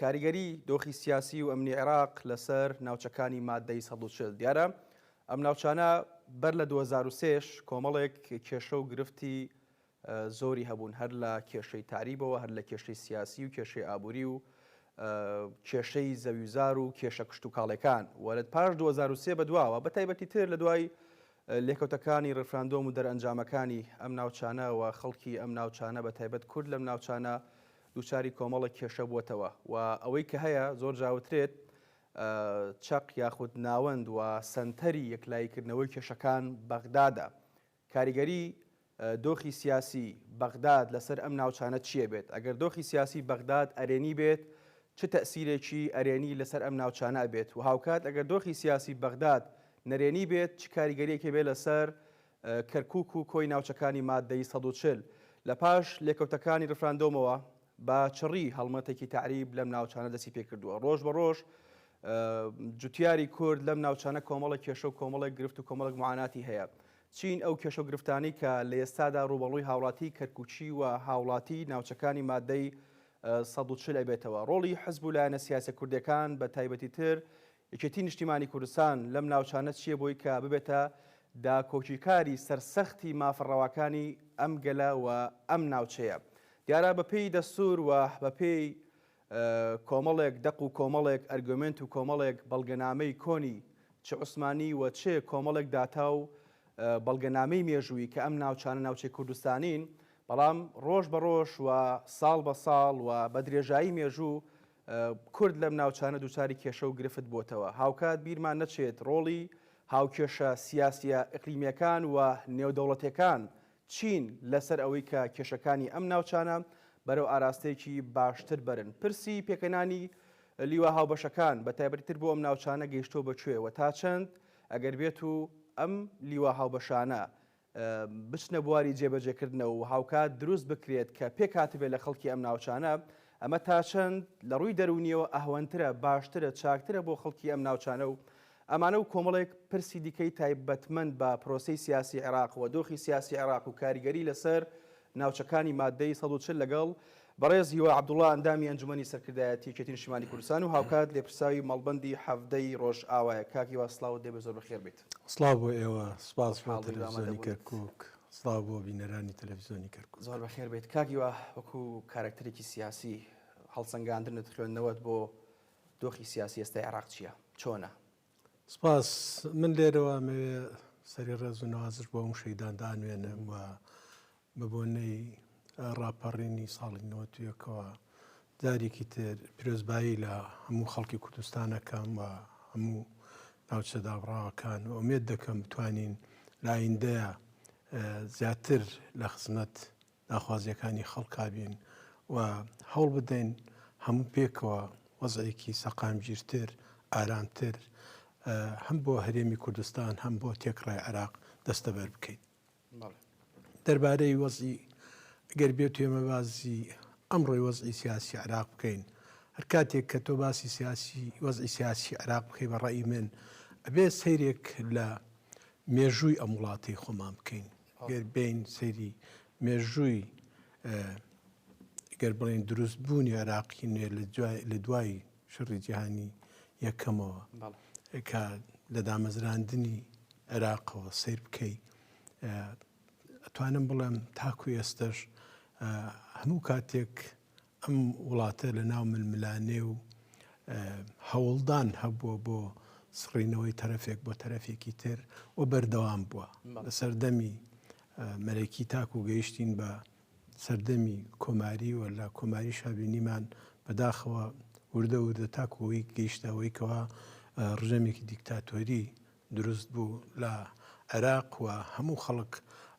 کاریگەری دۆخی سیاسی و ئەمنی عێراق لەسەر ناوچەکانی ماددەی سەد و چل. دیارە ئەم ناوچانە بەر لە دوو هەزار و سێ ش کۆمەڵێک کێشە و گرفتی زۆری هەبوون هەر لە کێشەی تەعریبەوە هەر لە کێشەی سیاسی و کێشەی ئابووری و کێشەی زەویوزار و کێشە کشتوکاڵێکان و لە پاش دوو هەزار و سێ بەدواوە بە تایبەتی تر لە دوای لێکەوتەکانی ڕفراندۆم و دەرئەنجامەکانی ئەم ناوچانە و خەڵکی ئەم ناوچانە بە تایبەت کورد لەم ناوچانە دووچاری کۆمەڵێک کێشە بووەتەوە و ئەوەی کە هەیە زۆر جا وترێت چەق یاخود ناوەند و سەنتەری یەکلاییکردنەوەی کێشەکان بەغدادە. کاریگەری دۆخی سیاسی بەغداد لەسەر ئەم ناوچانە چییە بێت؟ ئەگەر دۆخی سیاسی بەغداد ئەرێنی بێت چ تەئسیرێکی ئەرێنی لەسەر ئەم ناوچانە ئەبێت و هاوکات ئەگەر دۆخی سیاسی بەغداد نەرێنی بێت چ کاریگەریەکی بێت لەسەر کەرکووک و کۆی ناوچەکانی ماددەی سەد و چل، لە پاش لێکەوتەکانی ڕیفراندۆمەوە بە چڕی هەڵمەتێکی تەعریب لەم ناوچانە دەستی پێ کردووە. ڕۆژ بە ڕۆژ جوتیاری کورد لەم ناوچانە کۆمەڵێک کێشە و کۆمەڵێک گرفت و کۆمەڵێک معاناتی هەیە. چین ئەو کێشە و گرفتانەی کە لە ئێستادا ڕووبەڕووی هاوڵاتیی کەرکووکی و هاوڵاتیی ناوچەکانی ماددەی سەد و چل ئەبێتەوە؟ ڕۆڵی حزب و لایەنە سیاسییە کوردییەکان بە تایبەتیتر یەکێتی نیشتیمانی کوردستان لەم ناوچانە چیە بۆی کە ببێتە داکۆکیکاری سەرسەختی مافە ڕەواکانی ئەم گەلە و ئەم ناوچەیە؟ دیارە بە پێی دەستور و بە پێی کۆمەڵێک دەق و کۆمەڵێک ئەرگۆمێنت و کۆمەڵێک بەڵگەنامەی کۆنی چ عوسمانی و چ کۆمەڵێک داتا و بەڵگەنامەی مێژووی کە ئەم ناوچانە ناوچەی کوردستانین بەڵام ڕۆژ بە ڕۆژ و ساڵ بە ساڵ و بە درێژایی مێژوو کورد لەم ناوچانە دووچاری کێشە و گرفت بۆتەوە. هاوکات بیرمان نەچێت ڕۆڵی هاوکێشە سیاسیە ئیقلیمیەکان و نێودەوڵەتێکان چین لەسەر ئەوەی کە کێشەکانی ئەم ناوچانە بەرەو ئاراستەیەکی باشتر بەرن. پرسی پێکهێنانی لیوا هاوبەشەکان بە تایبەتی تر بۆ ئەم ناوچانە گەیشتوە بە کوێ و تا چەند ئەگەر بێت و ئەم لیوا هاوبەشانە بچنە بواری جێبەجێکردنەوە و هاوکات دروست بکرێت کە پێکهاتبێت لە خەڵکی ئەم ناوچانە، ئەمە تا چەند لە ڕووی دەروونییەوە ئەهوەنترە، باشترە، چاکترە بۆ خەڵکی ئەم ناوچانە و ئەمانە و کۆمەڵێک پرسی دیکەی تایبەتمەند بە پرۆسەی سیاسی عێراق و دۆخی سیاسی عێراق و کاریگەری لەسەر ناوچەکانی ماددەی سەد و چل لەگەڵ بەڕێز هیوا عەبدوڵا ئەندامی ئەنجومەنی سەرکردایەتی یەکێتی نیشتیمانی کوردستان و هاوکات لێپرساوی مەڵبەندی حەڤدە ی ڕۆژئاوایە. کاک هیوا سڵاوت لێبێت زۆر بەخێربێیت. سڵاو بۆ ئێوە، سپاس بۆ تەلەفزیۆنی کەرکوک، سڵاو بۆ بینەرانی تەلەفزیۆنی کەرکوک. زۆر بەخێر بێیت کاک هیوا، وەکو کارەکتەرێکی سیاسی، هەڵسەنگاندنت، خوێندنەوەت بۆ دۆخی سیاسی ئێستای عێراق چییە؟ چۆنە؟ سپاس، من لێرەوە ئەمەوێ سەری ڕێز و نەوازش بۆ هەموو شەهیداندا ئەنوێنم و بەبۆنەی ڕاپەڕینی ساڵی نەوەد و یەکەوە جارێکی تر پیرۆزبایی لە هەموو خەڵکی کوردستان ئەکەم و هەموو ناوچە دابڕاوەکان و ئومێد دەکەم بتوانین لە ئایندەیە زیاتر لە خزمەت داخوازیەکانی خەڵکا بین و هەوڵ بدەین هەموو پێکەوە وەزعێکی سەقامگیرتر ئارامتر هەم بۆ هەرێمی کوردستان هەم بۆ تێکڕای عێراق دەستەبەر بکەین. دەربارەی وەزعی گەر بێت ئێمە بازی ئەمڕۆی وەزعی سیاسی عێراق بکەین هەر کاتێک کە تۆ باسی سیاسی وەزعی سیاسی عێراق بکەی بە ڕێی من ئەبێ سەیرێک لە مێژووی ئەم وڵاتی خۆمان بکەین گەر بین سەیری مێژووی گەر بڵێن دروست بوونی عێراقی نوێ لە دوای شەڕی جیهانی یەکەمەوە کە لە دامەزراندنی عێراقەوە سەیر بکەی ئەتوانم بڵێم تاکو ئێستش هەموو کاتێک ئەم وڵاتە لە ناو ململانێ و هەوڵدان هەبووە بۆ سڕینەوەی تەرەفێک بۆ تەرەفێکی تر و بەردەوام بووە لە سەردەمی مەرەکی تاکو گەیشتین بە سەردەمی کۆماری و لە کۆماری شابینیمان بەداخەوە وردە وردە تاکو ئەوەی گەیشتە ئەوەی کەوا ڕژێمێکی دیکتاتۆری دروست بوو لە عێراق و هەموو خەڵک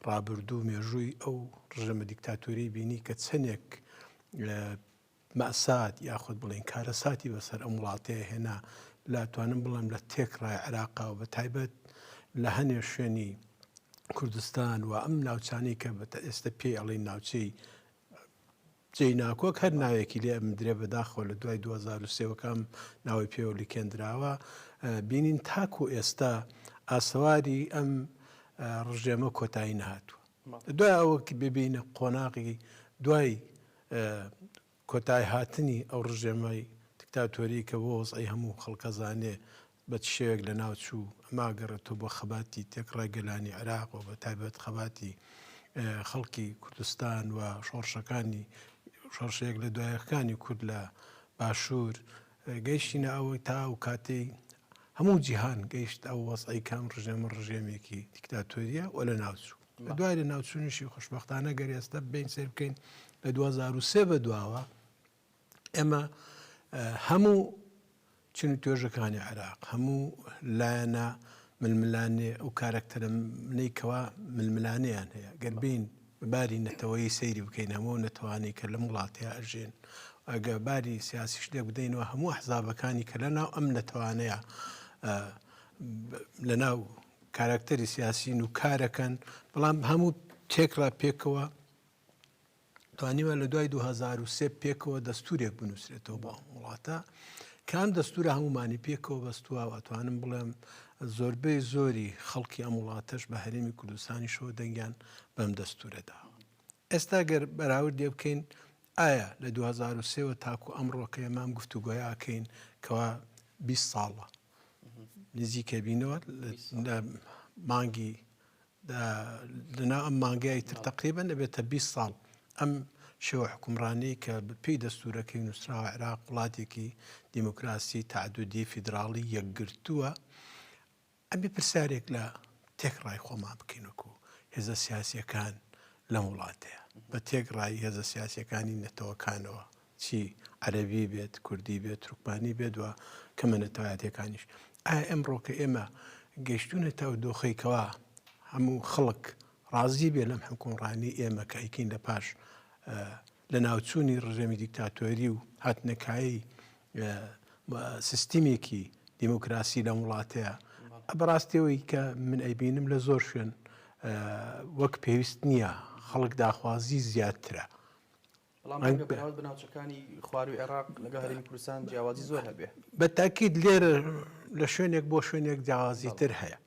ڕابردوو مێژووی ئەو ڕژێمە دیکتاتۆری بینی کە چەندێک مەئسات یاخود بڵێین کارەساتی بەسەر ئەم وڵاتەیە هێنا لاتوانم بڵێم لە تێک ڕای عراقا و بە تایبەت لە هەنێ شوێنی کوردستان و ئەم ناوچانی کە بە ئێستا پێی ئەڵی ناوچەی جێی ناکۆک هەر ناوێکی لێ درێ بەداخۆ لە دوای 2023ەکەم ناوی پێوە لکێندراوە بینین تاکو ئێستا ئاسەواری ئەم ڕژێمە کۆتایی نهاتوە دوای ئەوە ببینە قۆناغی دوای کۆتایهاتنی ئەو ڕژێمەی دیکتاتۆریی کە بۆ وەزعی هەموو خەڵک ئەزانێ بە چ شێوەیەک لە ناو چوو، ئەمە ئەگەڕێتەوە بۆ خەباتی تێکڕای گەلانی عێراق و بەتایبەت خەباتی خەڵکی کوردستان و شۆڕشەکانی شۆڕشە یەک لە دوای یەکەکانی کورد لە باشوور، گەیشتینە ئەوەی تا ئەو کاتەی هەموو جیهان گەیشت ئەو وەزعەی کە ئەم ڕژێمە ڕژێمێکی دیکتاتۆرییە و لە ناو چوو. لە دوای لە ناوچونیشی خوشبختانە گەر ئێستا ببین سێر بکەین لە 2023 بە دواوە ئێمە هەموو چنی توێژەکانی عێراق هەموو لایەنە ململانێ ئەو کارەکتەرە منەی کەوا ململانیان هەیە گەربین باری نەتەوەی سەیری بکەین هەموو نەتوانی کە لەم وڵاتەیە ئەژێن ئەگە باری سیاسیش لێ بدەینەوە هەموو حزابەکانی کە لە ناو ئەم نەتوانەیە لە ناو کاراکتەری سیاسین و کارەکەن بەڵام هەموو تێکرا پێکەوە توانیوە لە دوای 2023 پێکەوە دەستورێک بنووسێتەوە بۆ ئەم وڵاتە کام دەستورە هەمومانی پێکەوە بەستووە ئەتوانم بڵێم زۆربەی زۆری خەڵکی ئەم وڵاتەش بە هەرێمی کوردستانی شەوە دەنگیان بەم دەستورەدا ئێستا گەر بەراوردێ بکەین ئایا لە دوو هەزار و سێ وە تاکو ئەمڕۆ کە ئێمە ئەم گفتوگۆیە ئەکەین کەوا بیست ساڵە نزیکە بینەوە لە مانگی لەنا ئەم مانگای تر تقریبا دەبێتە 20 ساڵ ئەم شێوە حکومڕانی کە پێی دەستورەکەی نووسراوە عراق وڵاتێکی دیموکراسی تعدودی فیدراڵی یەکگرتووە ئەبێ پرسیارێک لە تێکڕای خۆمان بکەین وەکو هێزە سیاسیەکان لەم وڵاتەیە بە تێکڕای هێزە سیاسیەکانی نەتەوەکانەوە چی عەربی بێت کوردی بێت ترکمانی بێت وە کەمە نەتەوایەتەکانیش ئایا ئەمڕۆ کە ئێمە گەشتونە تا و دۆخێکەوە هەموو خەڵک ڕازی بێ لەم حکومڕانی ئێمە کە ئەیکەین لە پاش لە ناوچوونی ڕژێمی دیکتاتۆری و هاتنەکایی سیستیمێکی دیموکراسی لەم وڵاتەیە بەڕاستیەوەی کە من ئەیبینم لە زۆر شوێن وەک پێویست نییە خەڵک داخوازی زیاترە بناوچەکانی خواروی عێراق لەگە هەرمی کوردستان جیاوازی زۆر هەبێ بە تاکیید لێرە لە شوێنێک بۆ شوێنێک جیاوازی تر هەیە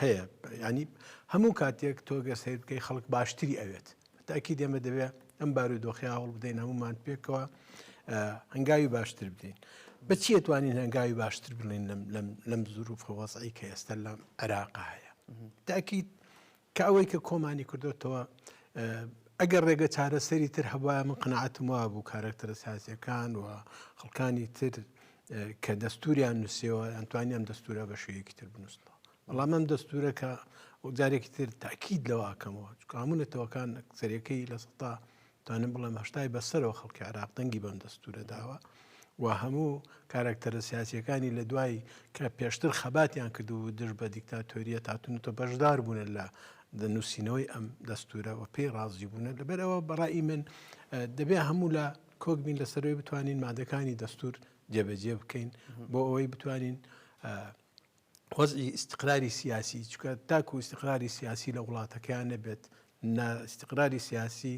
هەیە یانی هەموو کاتێک تۆگە سیر بکەی خەڵک باشتری ئەوێت تاکی دێمە دەبێت ئەم بارو دۆخی هەوڵ بدەین هەمومان پێکەوە هەنگاوی باشتر بدەین بە چیە توانین هەنگاوی باشتر بڵێن لەم زروف وەزعی کە ئێستا لە عێراق هەیە تاکییت کە ئەوەی کە کۆمانی کردوتەوە ئەگەر ڕێگە چارەسەری تر هەبواە من قەنەعاتم وا بوو کارەکتەرە سازیەکان و خەڵکانی تر کە دەستوریان نووسەوە ئەنتوانی ئەم دەستورە بە شوەیەکی تر بنووسنەوە بەڵام ئەم دەستورە کە ئەو جارێکی تر تاکیید لەواکەمەوە کامونەتەوەکان سەرەکەی لە سەتا توانم بڵێم هەشتای بەسەرەوە خەڵکی عراق دەنگی بەم دەستورە داوە و هەموو کارکتەرە سیاسەکانی لە دوای کە پێشتر خەباتیان کردو و دژ بە دیکتاتۆریە تاتونەوە بەشدار بوون لە نووسینەوەی ئەم دەستورە و پێی ڕازی بوون لەبەرەوە بەڕی من دەبێ هەموو لە کۆک بین لەسەر ئەوەی بتوانین مادەکانی دەستور جێبەجێ بکەین بۆ ئەوەی بتوانین وەزی ئیسقراری سیاسی چکە تاکو ئیسقراری سیاسی لە وڵاتەکەیان نەبێت ئیسقراری سیاسی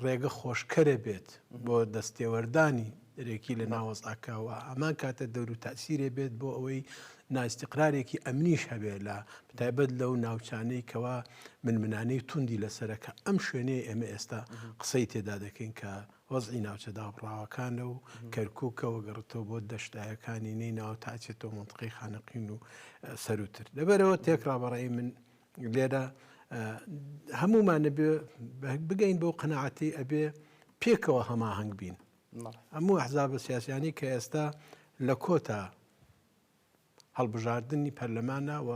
ڕێگە خۆشکەرە بێت بۆ دەستێوەردانی دەرەکی لە ناوەزعەکە و هەمان کاتە دەورو تاسیرێ بێت بۆ ئەوەی ناستیقرارێکی ئەمنیش هەبێت لە بتایبەت لەو ناوچانەی کەوا من منانەی توندی لەسەرەکە ئەم شوێنەیە ئێمە ئێستا قسەی تێدا دەکەین کە وەزی ناوچە دابڕاوەکانە و کەرکووکە وەگەڕێتەوە بۆ دەشتایەکانی نەی ناو تاچێتەوە منتقی خانەقین و سەروتر لەبەرەوە تێکڕابڕی من لێرە هەموومان ئەبێ بگەین بەو قەناعەتی ئەبێ پێکەوە هەماهەنگ بین هەموو ئەحزابە سیاسیانی کە ئێستا لە کۆتا هەڵبژاردننی پەرلەمانە و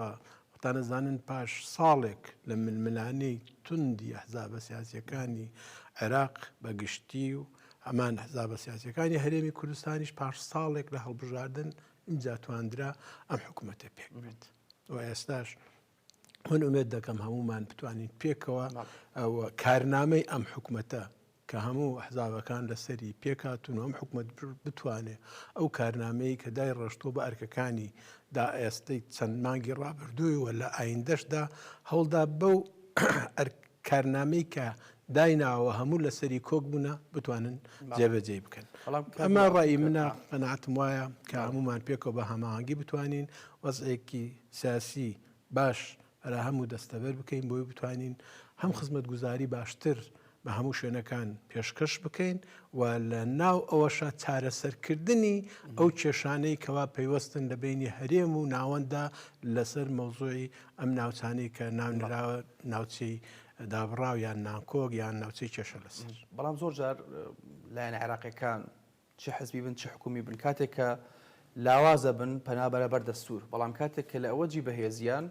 تانەزانن پاش ساڵێک لە ململانەی توندی حزابە سیاسەکانی عێراق بە گشتی و ئەمان حزابە سیاسەکانی هەرێمی کوردستانیش پاش ساڵێک لە هەڵبژاردن ئینجا تواندرا ئەم حکوومەتە پێک بێت و ئێستاش من ئومێد دەکەم هەموومان بتوانین پێکەوە کارنامەی ئەم حکومەتە کە هەموو حزابەکان لەسەری پێکاتون و ئەم حکومت بتوانێ ئەو کارنامەیە کە دای ڕشتۆ بە ئەرکەکانی دا ئێستەی چەند مانگی ڕابردوویەوە لە ئایندەشدا هەوڵدا بەو کارنامەی کە دایناوە هەموو لەسەری کۆک بوونە بتوانن جێبەجێی بکەن ئەمە ڕای منە قەناتم وایە کە هەمومان پێکەوە بە هەماهنگگی بتوانین وەزێکی سیاسی باش ئەرا هەموو دەستەبەر بکەین بۆی بتوانین هەم خزمەت گوزاری باشتر بە هەموو شوێنەکان پێشکەش بکەین و لە ناو ئەوەشە چارەسەرکردنی ئەو کێشانەی کەوا پەیوەستن لە بینی هەرێم و ناوەنددا لەسەر مەوزوعی ئەم ناوچانەی کە ناونراوە ناوچەی دابڕاو یان نانکۆک یان ناوچەی کێشە لەسەر. بەڵام زۆر جار لایەنە عێراقیەکان چ حزبی بن چ حکومی بن کاتێک کە لاوازە بن پەنا بەرە بەر دەستور بەڵام کاتێک کە لە ئەوەجی بەهێزیان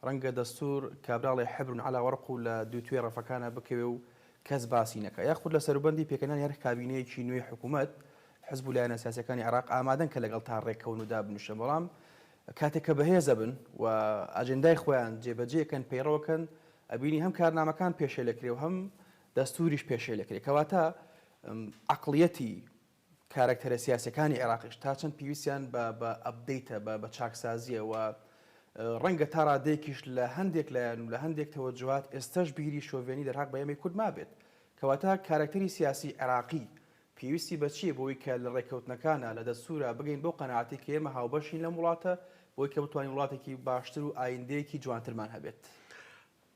رەنگە دەستور کابراڵێ حبر علی ورق و لە دوو توێی رەفەکانا بکەوێ و کەس باسی نەکا یاخود لە سەروبەندی پێکهێنانی هەر کابینەیەکی نوێی حکومەت حزب و لایەنە سیاسیەکانی عێراق ئامادەن کە لەگەڵ تا رێککەون و دابنیشن بەڵام کاتێک کە بەهێز ئەبن و ئاجێندای خۆیان جێ بەجێ ئەکەن پەیڕەو ئەکەن ئەبینی هەم کارنامەکان پێشێل ئەکرێ و هەم دەستووریش پێشێل ئەکرێ کەواتە عەقڵیەتی کارەکتەرە سیاسیەکانی عێراقیش تا چەند پێویستیان بە بە ئەپدەیتە بە بە چاکسازیە و ڕەنگە تا ڕادێکیش لە هەندێک لایەن و لە هەندێک تەوەجوهات ئێستەش بیری شۆڤێنی دەرهاق بە ئێمەی کورد مابێت کەواتە کارەکتەری سیاسی عێراقی پێویستی بە چییە بۆی کە لە ڕێککەوتنەکانا، لە دەستوورا، بگەین بەو قەناعەتەی کە ئێمە هاوبەشین لەم وڵاتە، بۆی کە بتوانین وڵاتێکی باشتر و ئایندەیەکی جوانترمان هەبێت؟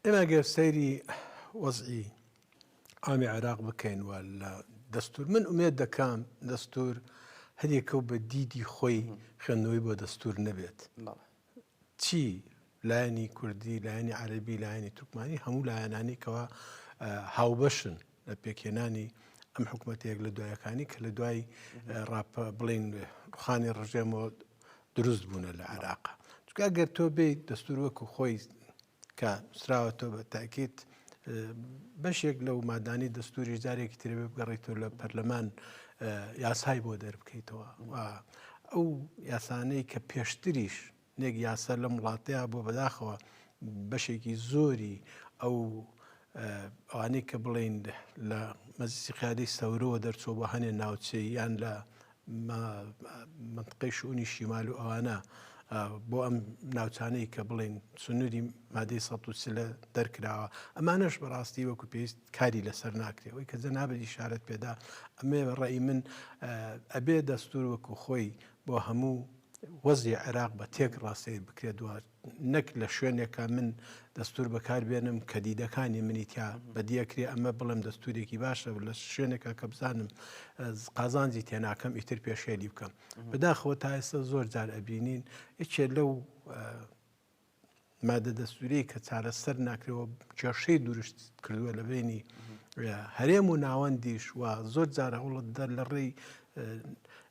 ئێمە گەر سەیری وەزعی عامی عێراق بکەین و لە دەستوور، من ئومێد دەکەم دەستوور هەریەکە و بە دیدی خۆی خوێندنەوەی بۆ دەستوور نەبێت، چی لایەنی کوردی، لایەنی عەرەبی، لایەنی تورکمانی، هەموو لایەنانی کەوا هاوبەشن لە پێکهێنانی ئەم حکوومەتە یەک لە دوایەکانی کە لە دوای ڕاپ بڵین ڕوخانی ڕژێمەوە دروست بوونە لە عێراق. چونکە ئەگەر تۆ بێیت دەستور وەکو خۆی کە نووسراوەتەوە بە تاکید بەشێک لەو مادانی دەستوری جارێکی ترێ بگەڕیتەوە لە پەرلەمان یاسای بۆ دەربکەیتەوە ئەو یاسانەی کە پێشتریش نێک یاسا لەم وڵاتەیە بۆ بەداخەوە بەشێکی زۆری ئەو ئەوانەی کە بڵین لە مەزیسی قیادی سەورەوە دەرچوە بە هەنێ ناوچەی یان لە مەنتقەی شئونی شیمال و ئەوانە بۆ ئەم ناوچانەی کە بڵێن سنووری مادەی ١٣٠ دەرکراوە ئەمانەش بەڕاستی وەکو پێویست کاری لەسەر ناکرێ ئەوی کە جەنابەت ئیشارەت پێدا ئەمێ بە ڕێی من ئەبێ دەستور وەکو خۆی بۆ هەموو وەزی عێراق بە تێک ڕاستەی بکرێت دوات نەک لە شوێنێکا من دەستور بەکار بێنم کە دیدەکانی منی تیا بەدیەکرێ ئەمە بڵێم دەستورێکی باشە لە شوێنێکە کە بزانم قازانجی تێناکەم ئیتر پێشێلی بکەم بەداخەوە تا ئێستا زۆر جار ئەبینین یەکێ لەو مادە دەستوری کە چارەسەر ناکرەوە کێشەی دروشت کردووە لە بینی هەرێم و ناوەندیش و زۆر جارە هەوڵت دەر لە ڕێی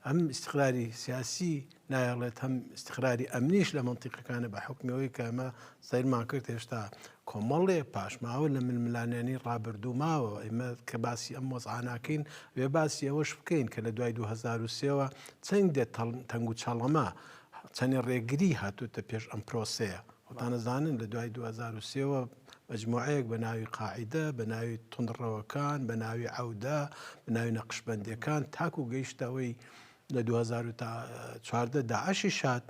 ئەم ئیسقراری سیاسی نایەڵێت هەم ئیستقراری ئەمنیش لە مەنتیقەکانە بە حوکمی ئەوەی کە ئەمە سەیرمان کرد هێشتا کۆمەڵێ پاشماوە لە ململانیانی ڕابردوو ماوە ئێمە کە باسی ئەم وەزعاناکەین وێ باسی ئەوەش بکەین کە لە دوای 2023ەوە چەند دێت تەنگ و چەڵەمە چەندێ ڕێگری هاتوتە پێش ئەم پرۆسەیە وتانەزانن لە دوای 2023ەوە مجموعەیەک بە ناوی قاعدە بە ناوی تونڕەوەکان بە ناوی عودە بە ناوی نەقشبندەکان تاکو گەیشتەوەی لە دوو هەزار و چواردە داعشیش هات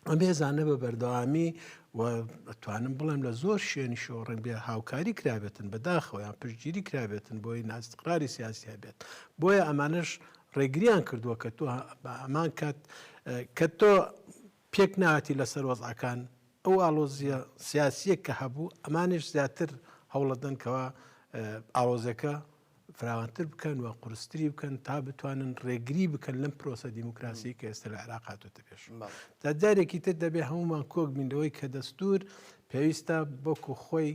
ئەم هێزانە بە بەردەوامی و ئەتوانم بڵێم لە زۆر شوێنی شۆ ڕنگ بێ هاوکاری کرابێتن بەداخەوەیان پشتگیری کرابێتن بۆی ناستقراری سیاسی هەبێت بۆیە ئەمانش ڕێگریان کردووە کە تۆ بە ئەمان کات کە تۆ پێک ناتی لەسەر وەزعەکان ئەو ئالۆزیە سیاسیە کە هەبوو ئەمانش زیاتر هەوڵەدەنکەوە ئاوازەکە فراوانتر بکەن و قورستری بکەن تا بتوانن ڕێگری بکەن لەم پرۆسە دیموکراسی کە ئێستا لە عراق هاتوتە پێش تا جارێکی تر دەبێ هەمومان کۆک بینەوەی کە دەستور پێویستە بۆکو خۆی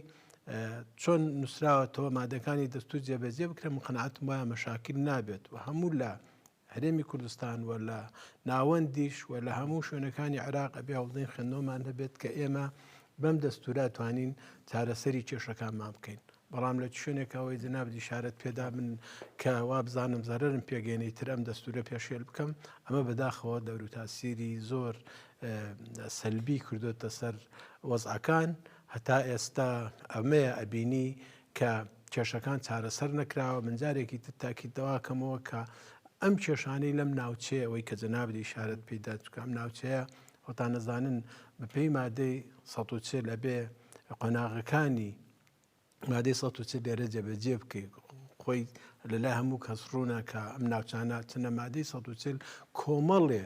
چۆن نووسراوەتەوە مادەکانی دەستور جێبەجێ بکرێن مقنعات وایە مەشاکل نابێت و هەموو لە هەرێمی کوردستان و لە ناوەندیش و لە هەموو شوێنەکانی عێراق ئەبێ هەوڵدەین خوێندنەوەمان هەبێت کە ئێمە بەم دەستورا توانین چارەسەری کێشەکانمان بکەین بەڵام لە شوێنێکەوەی جنابدی شارەت پێدا من کە وابزانم زەرم پێگەێنی تر ئەم دەستورە پێشێل بکەم ئەمە بەداخەوە دەورو تاسیری زۆر سەلبی کردوتە سەر وەزعەکان هەتا ئێستا ئەمەیە ئەبینی کە کێشەکان چارەسەر نەکراوە، من جارێکی تر تاکید دەواکەمەوە کە ئەم کێشانەی لەم ناوچەیە ئەوەی کە جەنابت ئیشارەت پێی دا چونکە ئەم ناوچەیە خۆتان نەزانن بەپێی مادەی سەد و چل ئەبێ قۆناغەکانی مادەی سەد و چل لێرە جێبەجێ بکەیت خۆی لەلای هەموو کەس ڕوونە کە ئەم ناوچانە چنە مادەی سەد و چل کۆمەڵێ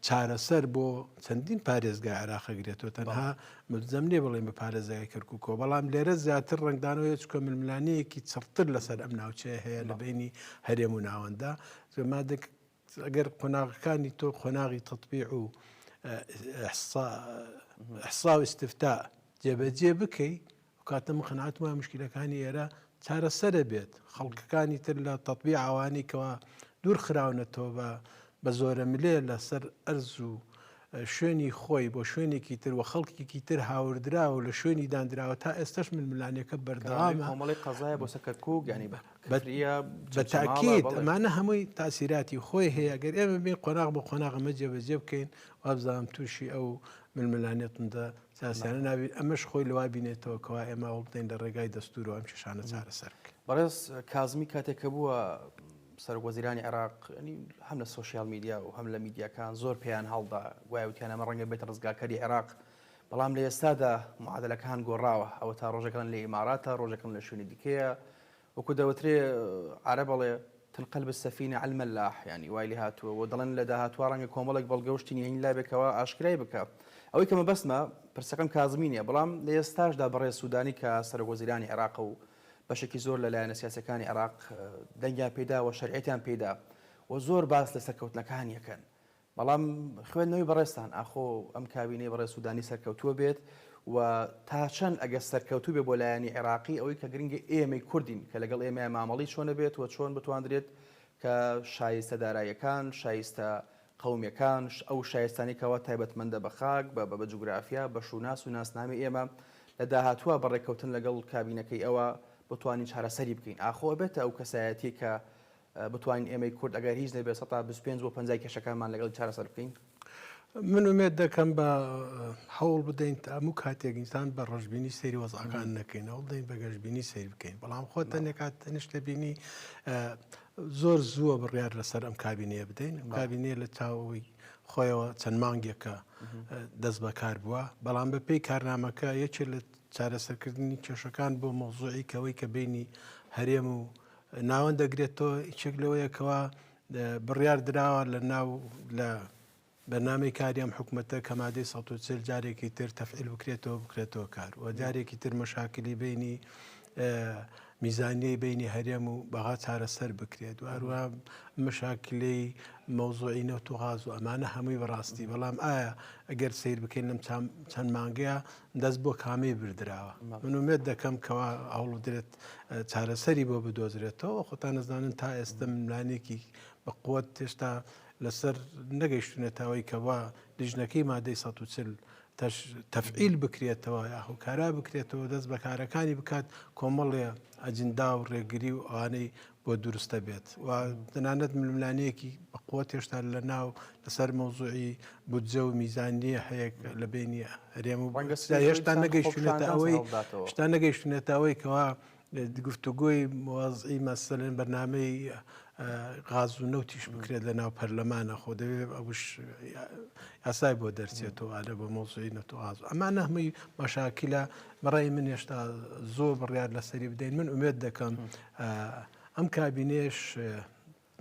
چارەسەر بۆ چەندین پارێزگای عێراق ئەگرێتەوە تەنها ملزەم نییە بڵێن بە پارێزگای کەرکووکەوە بەڵام لێرە زیاتر ڕنگدانەوەی چکە ململانەیەکی چڕتر لەسەر ئەم ناوچەیە هەیە لە بینی هەرێم و ناوەندە مادێک ئەگەر قۆناغەکانی تۆ قۆناغی تطبیع و حسا و استفتا جێبەجێ بکەیت ئەوکاتە من قەناعەتم وایە موشکیلەکانی ئێرە چارەسەرە بێت، خەڵکەکانی تر لە تەتبیع ئەوانەی کەوا دوور خراونەتەوە بە بە زۆرەملێ لەسەر ئەرز و شوێنی خۆی بۆ شوێنێکی تر و خەڵکێکی تر هاوردراوە و لە شوێنی دانراوە تا ئێستش ململانێکە بەردەوامە کۆمەڵی قەزایە بۆ سەکەرکوک ینی بە تاکیت ئەمانە هەمووی تاسیراتی خۆی هەیە گەر ئێمە بین قۆناغ بۆ قۆناغەمە جێبەجێ بکەین وابزانام تووشی ئەو ململانێتمدا سیاسیانە نابین، ئەمەش خۆی لەوە بینێتەوە کەوا ئێمە هەوڵ بدەین لە ڕێگای دەستوورەوە ئەم کێشانە چارەسەر بکەین. بەڕێز کازمی کاتێک کە بووە سەرۆکوەزیرانی عێراق هەم لە سۆشیال میدیا و هەم لە میدیاکان زۆر پێیان هەڵدا گوایە وتیان ئەمە ڕەنگە بێتە ڕزگارکەری عێراق بەڵام لە ئێستادا معادلەکان گۆڕاوە ئەوە تا ڕۆژەکان لە ئیماراتە ڕۆژەکەم لە شوێنی دیکەیە وەکو دەوترێ عەرەب ئەڵێ، تلقلب السفینە عەل ملاح، یانی وای لێ هاتووە، وە دەڵێن لە داهاتوا ڕەنگە کۆمەڵێک بەڵگە و شتی نهێنی لابێ کەوا ئاشکرای بکا. ئەوەی کە مەبەستمە، پرسەکەم کازمی نیە، بەڵام لە ئێستاشدا بەڕێز سودانی کە سەرۆک وەزیرانی عێراقە و بەشێکی زۆر لە لایەنە سیاسیەکانی عێراق دەنگیان پێدا و شەرعیەتیان پێیدا و زۆر باس لە سەرکەوتنەکانی ئەکەن بەڵام خوێندنەوەی بەڕێزتان ئاخۆ ئەم کابینەی بەڕێز سودانی سەرکەوتووە بێت و تا چەند ئەگەر سەرکەوتوو بێت بۆ لایەنی عێراقی ئەوەی کە گرنگە ئێمەی کوردین کە لەگەڵ ئێمەیا مامەڵەی چۆنە بێت و چۆن بتواندرێت کە شایستە دارایەکان شایستە قەومیەکان ئەو شایستانی کەوا تایبەتمەندە بە خاک بە بە جوگرافیا بە شوناس و ناسنامی ئێمە لە داهاتووە بە ڕێککەوتن لەگەڵ کابینەکەی ئەوە بتوانین چارەسەری بکەین ئاخۆ ئەبێتە ئەو کەسایەتیە کە بتوانین ئێمەی کورد ئەگەر هیچ نەبێت سەدا بیست و پێنج بۆ پەنجای کێشەکانمان لەگەڵ چارەسەر بکەین؟ من ئومێد دەکەم بە هەوڵ بدەین تا هەموو کاتێک ئینسان بە ڕەشببینی سەیری وەزعەکان نەکەین هەوڵ دەین بە گەشببینی سیر بکەین بەڵام خۆ تەنێکات تەنیشتە بینی زۆر زووە بڕیار لەسەر ئەم کابینەیە بدەین ئەم کابینەیە لە چاوەوەی خۆیەوە چەند مانگێکە دەست بەکار بووە بەڵام بە پێی کارنامەکە یەکێ لە چارەسەرکردنی کێشەکان بۆ مۆزوعی کەەوەی کە بینی هەرێم و ناوەند دەگرێت تۆ یچێک لەوەیە کەوا بڕیار دراوە لە ناو لە بەنامەی کاریام حکوومەتە کەمادەی 140 جارێکی تر تەفعیل بکرێتەوە بکرێتەوە کار و جارێکی تر مەشاکلی بینی میزانیەی بینی هەرێم و بەغا چارەسەر بکرێت و هەروە مەشاکلەی مەوزوعی نەوت و غاز و ئەمانە هەمووی بەڕاستی بەڵام ئایا ئەگەر سیر بکەین لەم چەند مانگەیە دەست بۆ کامی بردراوە منومێت دەکەم کەوا هەوڵ درێت چارەسەری بۆ بدۆزرێتەوە خۆتان نەزانن تا ئێستا ملانێکی بە قوت تێشتا لەسەر نەگەیشتونە تاوەی کەوا لیژنەکەی مادەی 140 تەفعیل بکرێتەوە یا هۆکارا بکرێتەوە دەست بەکارەکانی بکات کۆمەڵێ ئەجندا و ڕێگری و ئەوانەی بۆ دروست دەبێت و تەنانەت ململانەیەکی بەقوت هێشتا لە ناو لەسەر مەوزوعی بودجە و میزانیە هەیە لە بینی هەرێم و هێشتا نەگەیشتێتە ئەوەی شتا نەگەیشتێتەوەی کەوا گفتوگۆی موازعی مەسەلێن بەنامەی غاز و نەوتیش بکرێت لە ناو پەرلەمانە خۆ دەوێت ئەوش یاسای بۆ دەرچێتەوە ئالە بە مۆزعی نەتوغاز ئەما نەهمەی مەشاکیلا بەڕای من هێشتا زۆر بڕیار لەسەری بدەین من ئومێت دەکەم ئەم کابینەیەش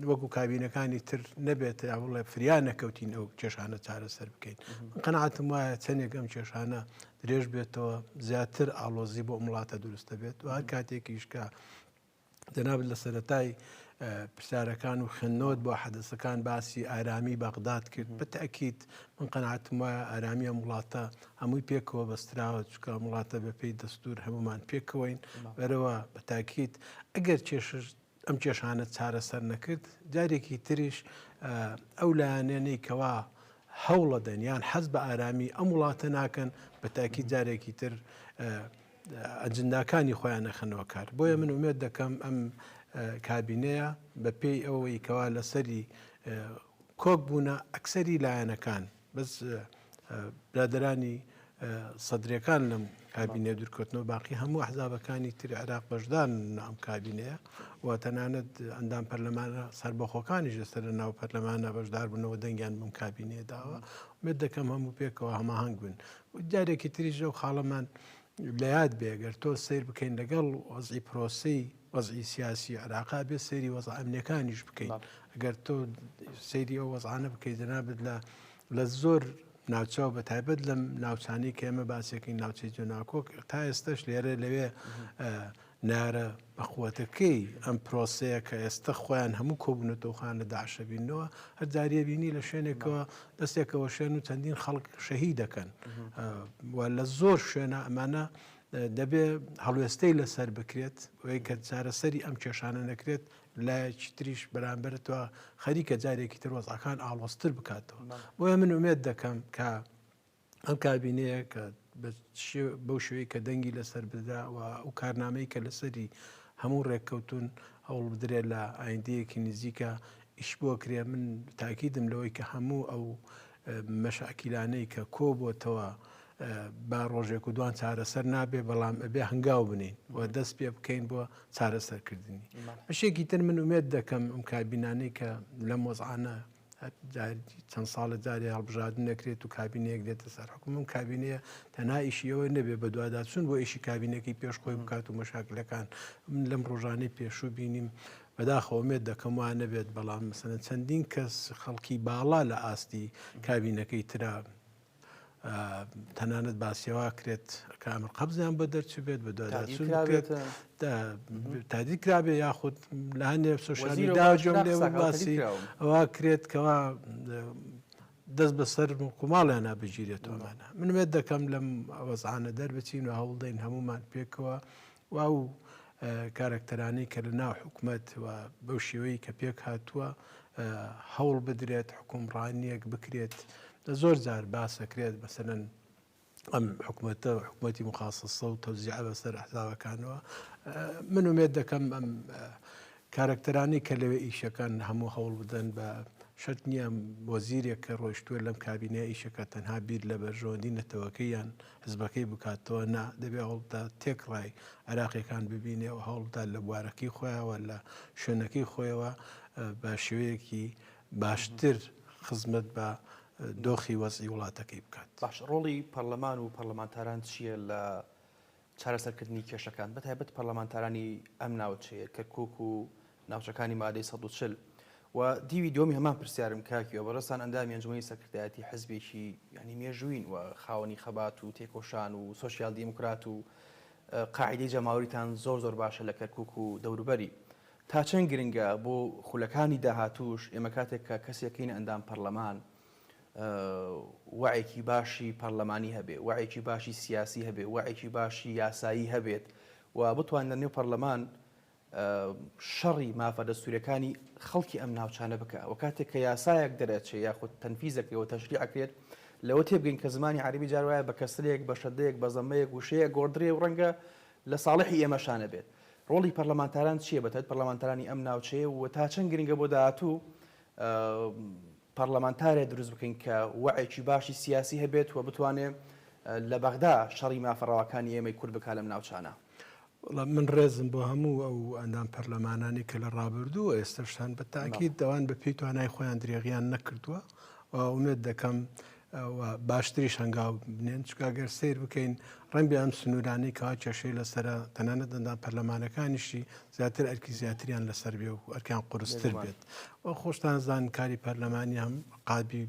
وەکو کابینەکانی تر نەبێت یا بڵێ فریا نەکەوتین ئەو کێشانە چارەسەر بکەین قەنعاتم وایە چەندێک ئەم کێشانە درێژ بێتەوە زیاتر ئاڵۆزی بۆ وڵاتە دروستە بێت و هەر کاتێکیشکە جەناب لە سەتای پرسیارەکان و خوێندنەوەت بۆ حەدەسەکان باسی ئارامی بەغداد کرد بەتەکییت من قەنعاتم وایە ئارامیە وڵاتە هەمووی پێکەوە بەستراوە چکە ئەم وڵاتە بەپێی دەستور هەمومان پێکەوەین بەرەوە بە تاکیت ئەگەر کێشش ئەم کێشانە چارەسەر نەکرد جارێکی تریش ئەو لایەنێنەی کەوا هەوڵە دەن یان حەز بە ئارامی ئەم وڵاتە ناکەن بە تاکی جارێکی تر ئەجنداکانی خۆیان نەخەنەوە کار بۆیە من ومێت دەکەم ئەم کابینەیە بە پێی ئەوەی کەوا لەسەری کۆک بوونە ئەکسری لایەنەکان بەس برادەرانی سەدرەکان لەم کابینە دورکەوتنەوە باقی هەموو حزابەکانی تر عێراق بەشدان ئەم کابینەیە و تەنانەت ئەندام پەرلەمانە سربەخۆکانیش لەسەر لە ناو پەرلەمانە بەشدار بوونەوە دەنگیان بم کابینێ داوە مێت دەکەم هەموو پێکەوە هەماهنگ بن و جارێکی تریژە و خاڵەمان لە یاد بێگەر تۆ سیر بکەین لەگەڵ وەزی پرۆسی وەزعی سیاسی عێراقا بێت سەیری وەزع ئەمنیەکانیش بکەین ئەگەر تۆ سەیری ئەو وەزعانە بکەیت جەنابت لە لە زۆر ناوچەوە بە تایبەت لەم ناوچانی کە ئێمە باسێکی ناوچەی جۆناکۆک تا ئێستش لێرە لەوێ نارە بەخوتەکەی ئەم پرۆسەیە کە ئێستا خۆیان هەموو کۆبوونەتەوخان لە داعشەبینەوە هەر جاریە بینی لە شوێنێکەوە دەستێکەوە شوێن و چەندین خەڵک شەهی دەکەن و لە زۆر شوێنە ئەمانە دەبێ هەڵوێستەی لەسەر بکرێت وەی کە چارەسەری ئەم کێشانە نەکرێت لایەکی تریش بەرامبەرتەوە خەریکە جارێکی تر وەزعەکان ئاڵۆستر بکاتەوە بۆیە من ومێت دەکەم کە ئەم کابینەیە کە بەو شوێی کە دەنگی لەسەر بدرا و ئەو کارنامەی کە لەسەری هەموو ڕێککەوتون هەوڵ بدرێ لە ئایندەیەکی نزیکە ئیش بۆ کرێ من تاکیدم لەوەی کە هەموو ئەو مەشاکیلانەی کە کۆبۆتەوە با ڕۆژێک و دوان چارەسەر نابێ بەڵام ئەبێ هەنگاو بنین و دەست پێ بکەین بۆ چارەسەرکردنی بەشێکی تر من ومێت دەکەم ئەم کابینانەی کە لە مۆزعانە چەند ساڵە جارێ هەڵبژاردن نەکرێت و کابینەیەک دێتە سەر حکومم کابینەیە تەنا ئیشی ئەوە نەبێ بە دوادا چون بۆ ئیشی کابینەکەی پێش خۆی بکات و مەشاکلەکان من لەم ڕۆژانەی پێشوو بینیم بەداخەوە ئومێد دەکەم وا نەبێت، بەڵام مەسەلەن چەندین کەس خەڵکی باڵا لە ئاستی کابینەکەی ترا تەنانەت باسیەوە کرێت کە ئەمر قەبزیان بۆ دەرچبێت بە دواداچێت تادی کرابێ یاخود لە هەندێ سوشانی داجۆسی ئەوە کرێت کەوا دەست بەسەر کوماڵیانە بگیرێتەوەمانە منێت دەکەم لەم وەزانە دەربچین و هەوڵدەین هەمومان پێکەوە و ئەو کارەکتەرانەی کە لە ناو حکومەت و بەو شێوەی کە پێک هاتووە هەوڵ بدرێت حکومڕانیەک بکرێت لە زۆر جار باسەکرێت بەسەرەن ئەم حکوومەتە حکوومەتی مخصصە و تەوزیع بەسەر حزاوەکانەوە من ومێت دەکەم ئەم کارەکتەرانی کە لەوێ ئیشەکان هەموو هەوڵ بدەن بە شت نییە وەزیرێک کە ڕۆشتووە لەم کابینە ئیشەکە تەنها بیر لە بەرژەوەندی نەتەوەکەیان حزبەکەی بکات تۆ نا دەبێ هەوڵبدا تێکڕای عێراقیەکان ببینێ و هەوڵبدا لە بوارەکەی خۆیەوە لە شوێنەکەی خۆیەوە بە شێوەیەکی باشتر خزمەت بە دۆخی وەزعی وڵاتەکەی بکات. باش ڕۆڵی پەرلەمان و پەرلەمانتاران چییە لە چارەسەرکردنی کێشەکان بەتایبەت پەرلەمانتارانی ئەم ناوچەیە کەرکوک و ناوچەکانی مادەی سەد و چل و دیوی دووەمی هەمان پرسیارم کاک گیۆ بەڕێزتان ئەندامی ئەنجومەنی سەرکردایەتی حزبێکی یانی مێژووین و خاوەنی خەبات و تێکۆشان و سۆسیال دیموکرات و قاعدەی جەماوەریتان زۆر زۆر باشە لە کەرکوک و دەوروبەری تا چەند گرنگە بۆ خولەکانی داهاتووش ئێمە کاتێک کە کەسێکین ئەندام پەرلەمان وعێکی باشی پەرلەمانی هەبێ وعێکی باشی سیاسی هەبێ وعێکی باشی یاسایی هەبێت و بتوان لە نێو پەرلەمان شەڕی مافە دەستووریەکانی خەڵکی ئەم ناوچانە بکا و کاتێک کە یاسایەک دەرئەچێ یاخود تەنفیز ئەکرێ و تەشریع ئەکرێت لەوە تێبگەین کە زمانی عەرەبی جار وایە بە کەسرێک بە شەدەیەک بە زەممەیەک وشەیەک گۆڕدرێ و ڕەنگە لە ساڵحی ئێمەشا نەبێت ڕۆڵی پەرلەمانتاران چییە بەتایبەت پەرلەمانتارانی ئەم ناوچەیە و تا چەند گرنگە بۆ داهاتوو پەڕلەمانتارێ دروست بکەین کە وەعێکی باشی سیاسی هەبێت و بتوانێ لە بەغدا شەڕی مافە ڕەواکانی ئێمەی کورد بکا لەم ناوچانە. وەڵا من ڕێزم بۆ هەموو ئەو ئەندام پەرلەمانانەی کە لە ڕابردوو و ئێستەش هەن بە تاکید ئەوان بە پێی توانای خۆیان درێغیان نەکردووە و ئومێد دەکەم و باشتریش هەنگاو بنێن چونکە گەر سەیر بکەین ڕەنگبێ ئەم سنوورانەی کەوا کێشەی لەسەرە تەنانەت ئەندام پەرلەمانەکانیشی زیاتر ئەرکی زیاتریان لەسەر بێ و ئەرکیان قورستر بێت و خۆشتان زان کاری پەرلەمانی هەم قابی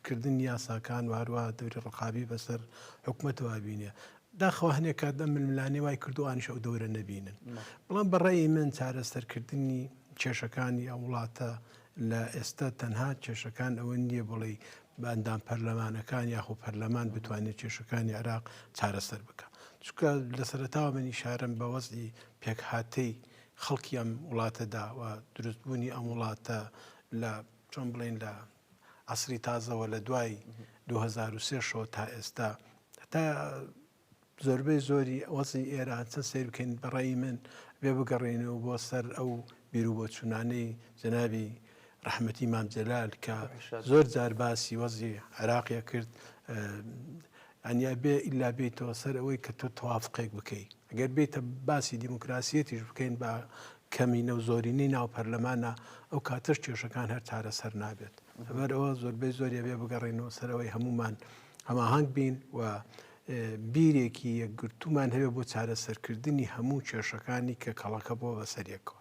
کردن یاساکان و هەروە دەوری ڕقابی بەسەر حکوومەتەوە بینێ داخوا هەنێک کات دە ململانێ وای کردوانیش ئەو دەورە نەبینن بەڵام بەڕێی من چارەسەرکردنی کێشەکانی ئەو وڵاتە لە ئێستا تەنها کێشەکان ئەوە نییە بڵێی بە ئەندام پەرلەمانەکان یاخۆ پەرلەمان بتوانێت کێشەکانی عراق چارەسەر بکە چکە لە سەرتاوە منی شارم بە وەزی پێکهاتەی خەڵکی ئەم وڵاتەدا و دروستبوونی ئەم وڵاتە لە چۆن بڵێن لە عسری تازەوە لە دوای 2023 شەوە تا ئێستا تا زۆربەی زۆری وەزعی ئێران چەند سەیر بکەین بە ڕای من بێ بگەڕێنەوە بۆ سەر ئەو بیروبۆچوونانەی جەنابی ڕەحمەتی مام جەلال کە زۆر جار باسی وەزی عێراقیە کرد ئەنیا بێ ئللا بێتەوە سەر ئەوەی کە تۆ توافقێک بکەیت ئەگەر بێتە باسی دیموکراسیەتیش بکەین بە کەمینە و زۆرینەی ناو پەرلەمانە ئەو کاتەش کێشەکان هەر چارەسەر نابێت لەبەرەوە زۆربەی زۆریە بێ بگەڕێنەوە سەرەوەی هەمومان هەماهەنگ بین و بیرێکی یەکگرتوومان هەبێت بۆ چارەسەرکردنی هەموو کێشەکانی کە کەڵەکە بۆ بەسەریەکەوە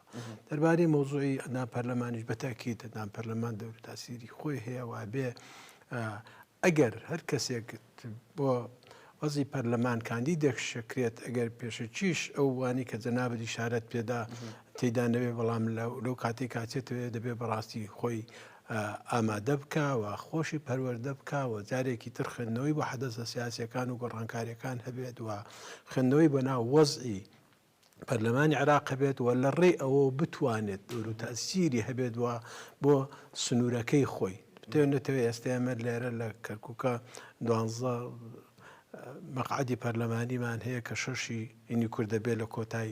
دەربارەی مۆزوعی ئەنا پەرلەمانیش بەتاکی دەدان پەرلەمان دەور تاسیری خۆی هەیە وابێ ئەگەر هەر کەسێک بۆ وەزی پەرلەمان کاندی دەخشەکرێت ئەگەر پێشەکیش ئەو وانی کە جەنابە دیشارەت پێدا تێدانەوێ بەڵام لەو کاتی کاچێتەوێ دەبێ بەڕاستی خۆی ئامادە بکا و خۆشی پەروەردە بکا و جارێکی تر خوێندنەوەی بۆ حەدەسە سیاسییەکان و گۆڕانکارییەکان هەبێت و خوێندنەوەی بۆ ناو وەزعی پەرلەمانی عێراق هەبێت و لە ڕێی ئەوەوە بتوانێت دور و تەسیری هەبێت و بۆ سنوورەکەی خۆی بتێن نەتەوەی ئێستا ئێمە لێرە لە کەرکووکە دوانزە مەقعدی پەرلەمانیمان هەیە کە شەشی یعنی کورد دەبێت لە کۆتای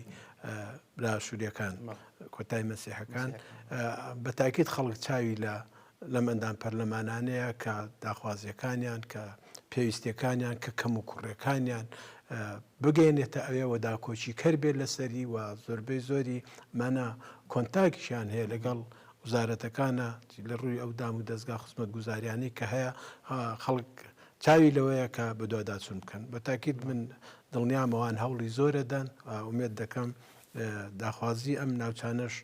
برا سووریەکان کۆتای مەسیحەکان بە تاکیت خەڵک چاوی لە لەم ئەندام پەرلەمانانەیە کە داخوازیەکانیان کە پێویستەکانیان کە کەم و کوڕەکانیان بگەێنێتە ئەوێەوە داکۆچی کەر بێت لەسەری و زۆربەی زۆری مانا کۆنتاکیشیان هەیە لەگەڵ وزارەتەکانە لە ڕووی ئەو دام و دەستگا خزمەت گوزاریانی کە هەیە خەڵک چاوی لەوەیە کە بەدواداچون بکەن بە تاکیت من دڵنیام ئەوان هەوڵی زۆرەدەن و ئومێد دەکەم داخوازی ئەم ناوچانەش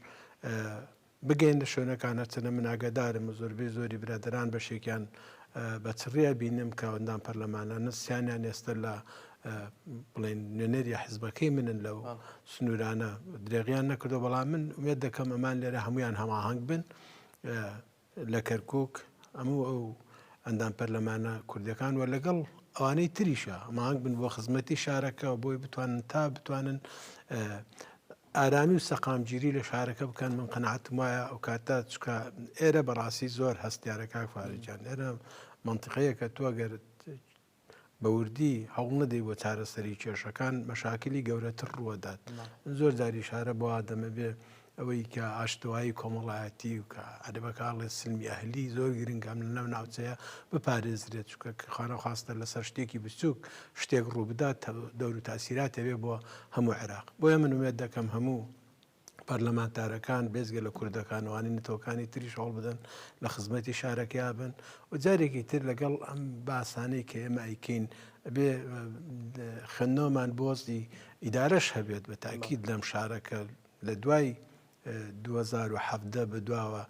بگەینە شوێنەکان هەرچەنە من ئاگادارم و زۆربەی زۆری برادران بەشێکیان بە چڕیە بینم کە ئەوەندان پەرلەمانانە سیانیان ئێستا لە بڵێن نوێنەری حزبەکەی منن لەو سنوورانە درێغیان نەکردو بەڵام من وێت دەکەم ئەمان لێرە هەمویان هەماهنگ بن لە کەرکوک هەموو ئەو ئەندام پەرلەمانە کوردەکان و لەگەڵ ئەوانەی تریشە مانگ بن بۆ خزمەتی شارەکە بۆی بتوانن تا بتوانن ئارامی و سەقامگیری لە شارەکە بکەن من قەنەعاتم وایە ئەو کاتە چکە ئێرە بەڕاستی زۆر هەستیارەکە فارجان ئێرە منطقەیەکە تۆگەر بە وردی هەوڵ نەدەی بۆ چارەسەری کێشەکان مەشاکلی گەورەتر ڕووەدات زۆر جاری شارە بۆ ئادەمە بێ ئەوەی کە ئاشتەوایی کۆمەڵایەتی و کە عەربەکڵێ سلمی ئەهلی زۆر گرنگام لە ناو ناوچەیە بپارێزرێت چکە خانە خواستە لەسەر شتێکی بچووک شتێک ڕووبدات دەور و تاسیراتەوێ بۆ هەموو عێراق بۆیە من وێت دەکەم هەموو پەرلەمانتارەکان بێجگە لە کوردەکان وانی نەتەوەکانی تریش هەوڵ بدەن لە خزمەتی شارەکەیا بن و جارێکی تر لەگەڵ ئەم باسانەی کە ئێمە ئەیکەین بێ خوێندنەوەمان بۆزی ئیدارەش هەبێت بە تاکیید لەم شارەکە لە دوای 2017 بە دواوە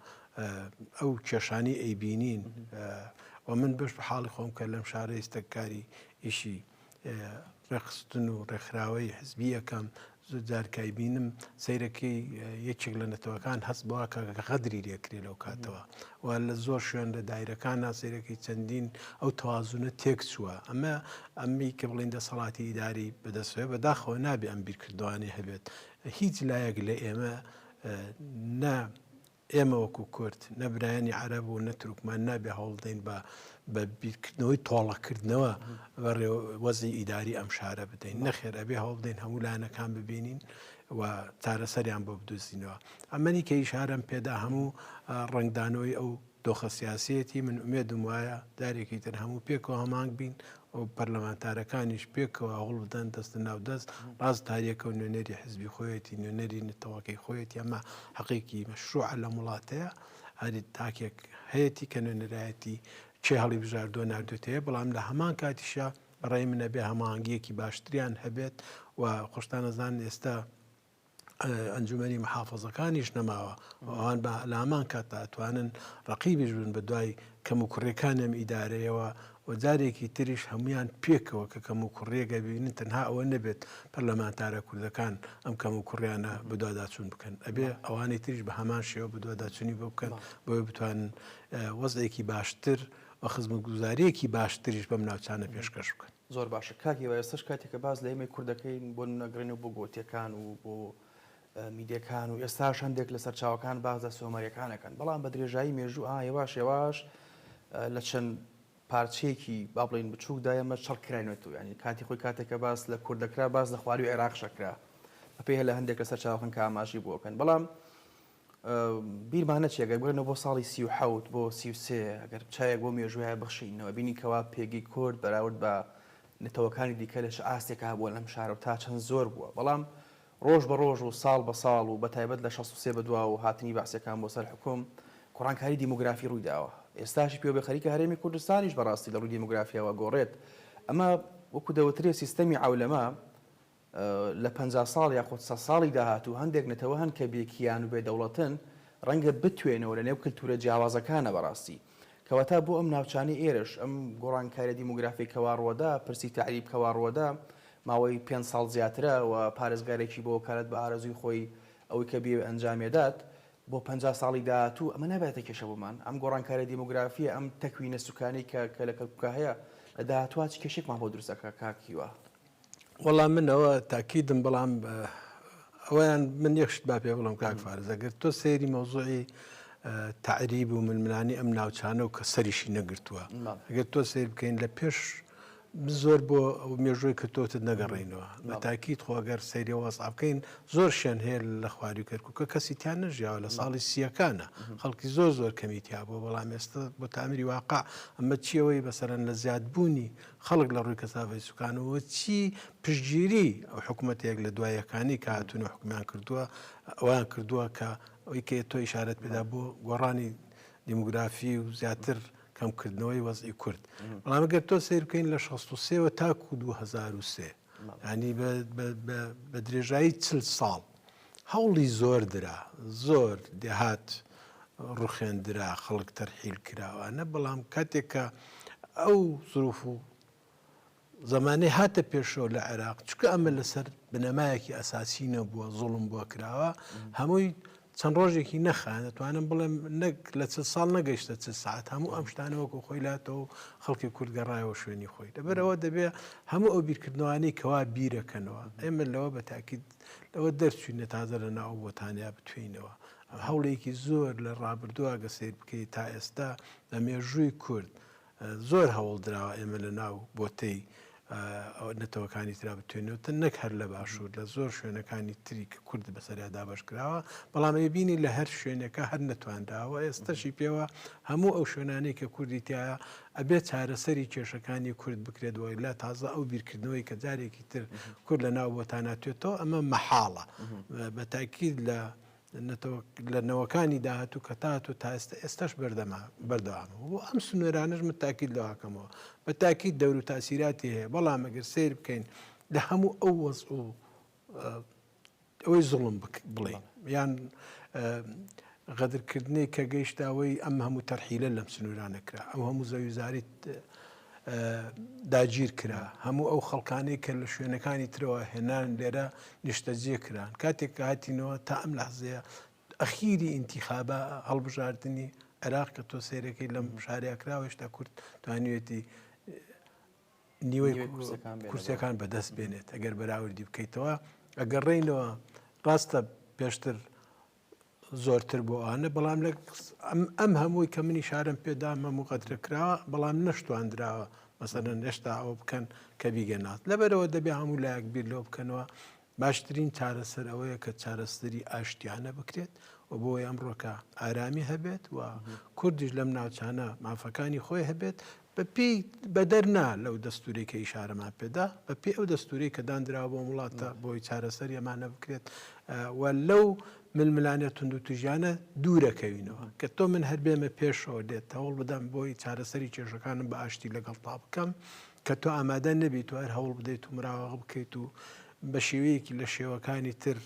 ئەو کێشانی ئەیبینین و من بەش بە حاڵی خۆم کە لەم شارە ئێستەکاری ئیشی ڕێکخستن و ڕێکخراوەی حزبی یەکەم زۆر جار کای بینم سیرەکەی یەکێک لە نەتەوەکان هەست بەوا کە غەدری لێکرێ لەو کاتەوە و لە زۆر شوێن لە دایرەکان ناسیرەکەی چەندین ئەو توازونە تێک چووە ئەمە ئەممی کە بڵین دەسەڵاتی ئیداری بەدەستێ بەداخەوە نابێ ئەم بیرکردوانی هەبێت هیچ لایەک لە ئێمە نە ئێمە وەکو کورد، نە برایانی عەرەب و نە تورکمان نابێ هەوڵ بدەین بە بە بیرکردنەوەی تۆڵەکردنەوە بەڕێ وەزعی ئیداری ئەم شارە بدەین نەخێر ئەبێ هەوڵ بدەین هەموو لایەنەکان ببینین و چارەسەریان بۆ بدوزینەوە ئەمەنی کە ئیشارم پێدا هەموو ڕنگدانەوەی ئەو دۆخە سیاسەتی من ئومێدم وایە دارێکی تر هەموو پێکەوە هەمانگ بین و پەرلەمانتارەکانیش پێکەوە هەوڵ بدەن دەستە ناو دەست ڕاست تاریەکە و نوێنەری حزبی خۆیەتی نوێنەری نەتەوەکەی خۆیەتی ئەمە حەقێکی مەشروع لە وڵاتەیە هەری تاکێک هەیەی کە نوێنەرایەتی چێ هەڵی بژاردۆ نردوێتەیە بەڵام لە هەمان کاتیشە بەڕێ منە بێ هەماهنگگیەکی باشتریان هەبێت و خۆشتانەزان ئێستا ئەنجومەنی محافەزەکانیش نەماوە ئەوان بە لامان کات ئەتوانن ڕقیبیش بن بە دوای کەم و کوڕێکان ئەم ئیدارەیەوە و جارێکی تریش هەمویان پێکەوە کە کەم و کوڕیەگە ببینن تەنها ئەوە نەبێت پەرلەمانتارە کوردەکان ئەم کەم و کوڕیانە بدواداچون بکەن ئەبێ ئەوانی تریش بە هەمان شێوە بدواداچنی بۆ بکەن بۆی بتوان وەزێکی باشتر و خزمگوزاریەکی باشتریش بەم ناوچانە پێشکەش بکەن. زۆر باشە کاک هیوا ئێستەش کاتێکە باس لە ئێمەی کورد دەکەین بۆ نمونە گەڕێنەوە بۆ گۆتیەکان و بۆ میدەکان و ئێستاش هەندێک لە سەرچاوەکان باس لە سۆمەریەکانەکەن بەڵام بە درێژایی مێژوو ئا هێواش هێواش لە چەند پارچەیەکی با بڵین بچووکدا ئێمە چڕکراینێت و ینی کاتی خۆی کاتێکە باس لە کورد دەکرا باس لە خواری عێراق شەکرا بەپێ لە هەندێک لە سەرچاوەکان کە ئاماژی بۆکەن بەڵام بیرمان نەچێ گەر بگەرێنەوە بۆ ساڵی سی و حەوت بۆ سی و سێ گەر چاوێک بۆ مێژوویە بخشینەوە بینین کەوا پێگەی کورد بەراورد بە نەتەوەکانی دیکە لە چ ئاستێکا هەبووە لەم شارە و تا چەند زۆر بووە بەڵام ڕۆژ بە ڕۆژ و ساڵ بە ساڵ و بەتایبەت لە شەست و سێ بەدواوە و هاتنی بەعسیەکان بۆ سەر حوکم گۆڕانکاری دیمۆگرافی ڕووی داوە ئێستاشی پێوە بێ خەریکە هەرێمی کوردستانیش بەڕاستی لە ڕووی دیمۆگرافیاوە گۆڕێت ئەمە وەکو دەوترێ سیستەمی عەولەمە لە پەنجا ساڵ یاخود سەد ساڵی داهاتوو هەندێک نەتەوە هەن کە بێ کیان و بێ دەوڵەتن، ڕەنگە بتوێنەوە لە نێو کلتوورە جیاوازەکانا بەڕاستی. کەواتە بۆ ئەم ناوچانەی ئێرەش ئەم گۆڕانکاریە دیمۆگرافیەی کەوا ڕوەدا، پرسی تەعریب کەوا ڕوەدا ماوەی پێنج ساڵ زیاترە و پارێزگارێکی بۆ وەکالەت بە ئارەزووی خۆی ئەوەی کە بیەوێ ئەنجامی ئەدات، بۆ پەنجا ساڵی داهاتوو ئەمە نابێتە کێشە بۆمان؟ ئەم گۆڕانکاریە دیمۆگرافیە، ئەم تەکوینە سوکانەی کە کە لە کەرکوکا هەیە لە داهاتووا چ کێشەێکمان بۆ دروست ئەکا کاک هیوا؟ وەڵا من ئەوە تاکیدم بەڵام ئەویان من یەک شت با پێ بڵم کاک فارز ئەگەر تۆ سەیری مەوزوعی تعریب و ململانی ئەم ناوچانە و کە سەریشی نەگرتووە ئەگەر تۆ سیر بکەین لە پێش زۆر بۆ مێژۆی کردوتت نەگەڕینەوە بە تاکیت خۆگەر سەیری وەسا بکەین زۆر شوێن هەیە لە خواری کەرککە کەسی تیان نەژیاوە لە ساڵی سیەکانە خەڵکی زۆر زۆر کەمیتیا بۆ بەڵام ئێستا بۆ تامری واقع ئەمە چیەوەی بەسەرەن لە زیادبوونی خەڵک لە ڕووی کەسافەتی سوکانەوە چی پشتگیری ئەو حکومەتێک لە دوای یەکانی کە هاتوونە حکومیان کردووە ئەویان کردووە کە ئەوی کە تۆ ئیشارەت پێدا بۆ گۆڕانی دیموگرافی و زیاتر کەمکردنەوەی وەزی کورد بەڵامگەر تۆ سیر بکەین لە 16 تاکو 2023 ینی بە درێژایی چل ساڵ هەوڵی زۆر درا، زۆر دێهات ڕوخێندرا، خەڵک تەرحیل کراوانە، بەڵام کاتێک کە ئەو زروف و زەمانەی هاتە پێشەوە لە عێراق چکە ئەمە لەسەر بنەمایەکی ئەساسی نەبووە زوڵم بۆ کراوە هەمووی چەند ڕۆژێکی نەخایاند دەتوانم بڵێم نەک لە چل ساڵ نەگەشتە چ سعات هەموو ئەم شتانە وەکو خۆی لاتەوە خەڵکی کورد گەڕایەوە شوێنی خۆی لەبەرەوە دەبێ هەموو ئەو بیرکردنەوانی کەوا بیرەکەنەوە ئێمە لەوە بە تاکیت لەوە دەرچوین نە تازە لە ناو بۆتانیا بتوێینەوە هەوڵێکی زۆر لە ڕابردووە گە سیر بکەیت تا ئێستا لە مێژووی کورد زۆر هەوڵ دراوە ئێمە لە ناو بۆتەی نەتەوەکانی ترا بتوێنەوە تە نەک هەر لە باشوور لە زۆر شوێنەکانی تری کە کورد بەسەریا دابش کراوە بەڵام ئەی بینی لە هەر شوێنەکە هەر نەتوانراوە ئێستەشی پێوە هەموو ئەو شوێنانەی کە کوردی تایە ئەبێت چارەسەری کێشەکانی کورد بکرێت وای لە تازە ئەو بیرکردنەوەی کە جارێکی تر کورد لە ناو بۆتاناتێتەوە ئەمە مەحاڵە بە تاکیید لە لە نەوەکانی داهاتوو کە تاهاتوو تا ئێستا ئێستاش بەردەمە بەردەوامە و بۆ ئەم سنوێرانەش من تاکیید لەوە ئەکەمەوە بە تاکیید دەور و تاسیراتی هەیە بەڵام ئەگەر سیر بکەین لە هەموو ئەو وەز و ئەوەی زوڵم بڵێن یان غەدرکردنی کە گەیشتاوەی ئەم هەموو تەرحیلە لەم سنوورانە کرا ئەو هەموو زەویزاریت داگیر کرا، هەموو ئەو خەڵکانەی کە لە شوێنەکانی ترەوە هێنان لێرە نیشتەجێ کران، کاتێک کە هاتینەوە تا ئەم لەحزەیە ئەخیری ئینتیخابە هەڵبژاردنی عێراق کە تۆ سەیرەکەی لەم شارەیە کراوە هێشتا کورد توانیوێتی نیوەی کورسەکان بەدەست بێنێت ئەگەر بەراوردی بکەیتەوە ئەگەڕێینەوە ڕاستە پێشتر زۆرتر بۆ ئانە بەڵام لە ئەم هەمووی کە منی شارم پێدا هەموو قەترە کراوە بەڵام نەشتواندراوە مەسەرەن هێشتا ئەوە بکەن کە بیگەنات لەبەرەوە دەبێ هەموو لایەک بیر لەوە بکەنەوە باشترین چارەسەر ئەوەیە کە چارەسەری ئاشتیانە بکرێت و بۆ ئەمڕۆکە ئارامی هەبێت و کوردیش لەم ناوچانە مافەکانی خۆی هەبێت بە پێی بەدەر نا لەو دەستورەی کە ئیشارەمان پێدا بە پێ ئەو دەستوری کە دانراوە بۆ وڵاتە بۆی چارەسەر ئەمانە بکرێت و لەو ململانێ تونند و تژیانە دوورەکەوینەوە کە تۆ من هەر بێمە پێشەوە لێت هەوڵ بدەم بۆی چارەسەری کێشەکانم بە ئاشتی لەگەڵ تا بکەم کە تۆ ئامادە نەبیت و هەر هەوڵ بدەیت و مراوەغ بکەیت و بە شێوەیەکی لە شێوەکانی تر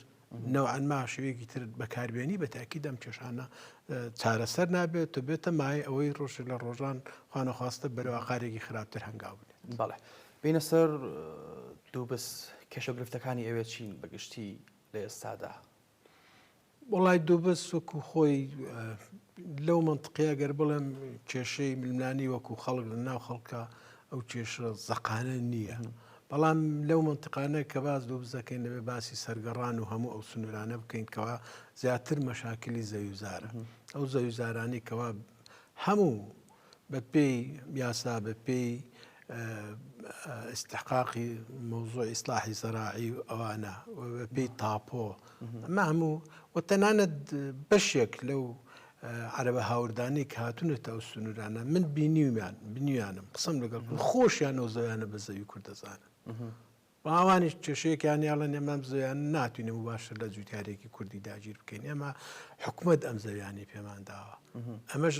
نەوعەن ما شێوەیەکی تر بەکاربێنی بە تاکید ئەم کێشانە چارەسەر نابێت و بێتە مایە ئەوەی ڕۆژێک لە ڕۆژان خوانەخواستە بەرەوە قارێکی خراپتر هەنگاو بنێت بەڵێ بینە سەر دوو بس کێشە گرفتەکانی ئەوێ چین بەگشتی لە ئێستادا وڵای دووبە سوک و خۆی لەو منطقەیە گەر بڵێم کێشەی ململانی وەکو خەڵک لە ناو خەڵکە ئەو کێشە زەقانە نییە بەڵام لەو مەنتقانە کە باس لۆ بزەکەین دەبێت باسی سەرگەڕان و هەموو ئەو سنوورانە بکەین کەوا زیاتر مەشاکلی زەویزارە ئەو زەویزارانی کەوا هەموو بە پێی یاسا بە پێی استحقاقی مۆزۆ ئیسلاحی زەراعی و ئەوانە پێی تاپۆ ئەمە هەموو و تەنانەت بەشێک لەو عەرەبە هاوردانەی کە هاتوونەتە ئەو سنوورانە من بینیومیان، بینیویانم، قسەم لەگەڵ کرد، خۆشیان ئەو زەویانە بە زەوی کورد دەزانن و ئەوانیش کێشەیەکیان نییە، ئەڵێن ئێمە ئەم زەویانە ناتوانین موباشەر لە جووتیارێکی کوردی داگیر بکەین، ئێمە حکومەت ئەم زەویانەی پێمان داوە. ئەمەش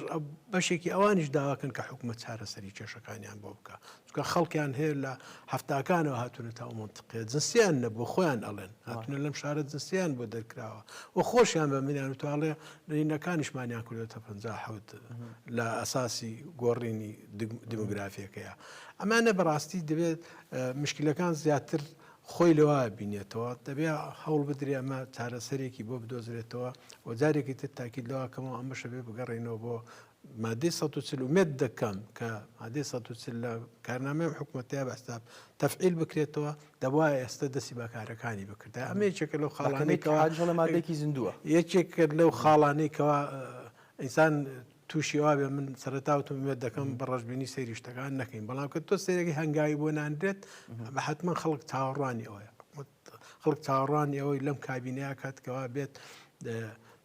بەشێکی ئەوانیش داوا دەکەن کە حکومەت چارەسەری کێشەکانیان بۆ بکات، چونکە خەڵکیان هەیە لە هەفتاکانەوە هاتوونە تاو منتقێ جنسیان نەبوو خۆیان ئەڵێن هاتونە لەم شارە جنسیان بۆ دەرکراوە و خۆشیان بە منیان و تاڵێ نەینەکانیشمانیان کردێتە پ حوت لە ئەساسی گۆڕینی دیموگرافیەکەیە ئەمانە بەڕاستی دەبێت مشکلەکان زیاتر خۆی لەوە بینێتەوە دەبێ هەوڵ بدرێ ئەمە چارەسەرێکی بۆ بدۆزرێتەوە و جارێکی تر تاکیید لەوەکەمەوە ئەمەشە بێ بگەڕێنەوە بۆ مادەی سەد و چل ئومێد دەکەم کە مادەی سەد و چل لە کارنامەی ئەم حکوومەتەیە بەستاب تەفعیل بکرێتەوە دەبوا ئێستا دەستی بەکارەکانی بکردا ئەمە یەکێکە لەو خاڵانەی کەوا جڵە مادێکی زیندووە یەکێک کرد لەو خاڵانەی کەوا ئینسان تووشی ئەوە بێ من سەرتاوتم وێت دەکەم بە ڕژبینی سەیری شتەکان نەکەین بەڵام کە تۆ سەیرێکی هەنگاوی بۆ ناندرێت بە حتمما خەڵک چاوەڕوانی ئەوەیە خەڵک چاوەڕوانی ئەوەی لەم کابینەیە کات کەوا بێت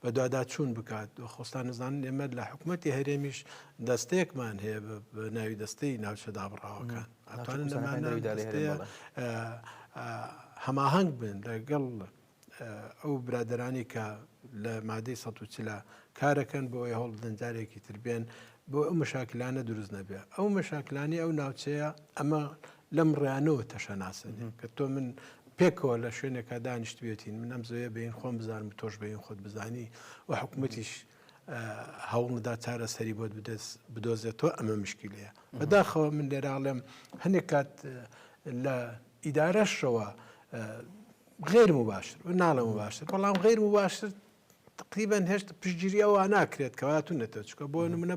بەدواداچوون بکات خۆستان نزانن ئێمە لە حکوومەتتی هەرێمیش دەستێکمان هەیە بە ناوی دەستەی ناوچە دابڕاوەکان هەماهنگ بن لەگەڵ ئەو برادرانی کە لە مادەی سە چلا کارەکەن بۆ ئەوی هەوڵ دەنجارێکی تربێن بۆ ئەو مەشاکلانە دروست نەبێ ئەو مەشاکلانی ئەو ناوچەیە ئەمە لەم ڕیانەوە تەشەناسن کە تۆ من پێکەوە لە شوێنێکا دانیشتوێتین من ئەم زۆیە بین خۆم بزانم تۆش بین خۆت بزانی و حکوومەتیش هەوڵدا چارەسەری بۆت بدەست بدۆزێتەوە ئەمە مشکی لەیە بەداخەوە من لێراڵێم هەنێک کات لە ئیدارەشەوە غێر و باشتر و ناڵم و باشتر بەڵام غێر و باشتر تەقریبەن هێشت پشتگیری ئەوە ناکرێت کە هاتوونەتە چکە بۆ نمونە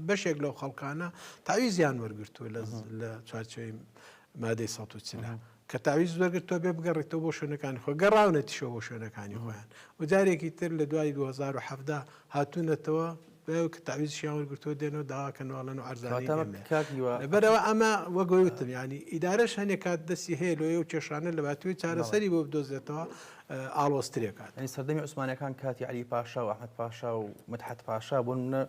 بەشێک لەو خەڵکانە تاویزیان وەرگتووە لە چوارچەوەی مادەی سە و چلا کە تاویز وەرگرت تۆ بێ بگەڕێتەوە بۆ شوێنەکانی خۆ گەڕاونەتیشەوە بۆ شوێنەکانی خۆیان و جارێکی تر لە دوای 2010 هاتوونەتەوە دوای ئەوکە تەعویزشیان وەرگرتووە دێن و داوا کەن و ئەڵێن عەرزانەی ئێمەیە. کاک هیوا. لەبەرئەوە ئەمە وەک وای وتم یانی ئیدارەش هەنێ کات دەستی هەیە لۆی ئەو کێشانە لەباتووی چارەسەری بۆ بدۆزێتەوە ئاڵۆز ترێ کات. یانی سەردەمی عوسمانەکان کاتی عەلی پاشا و ئەحمەد پاشا و مدحەت پاشا بۆ نموونە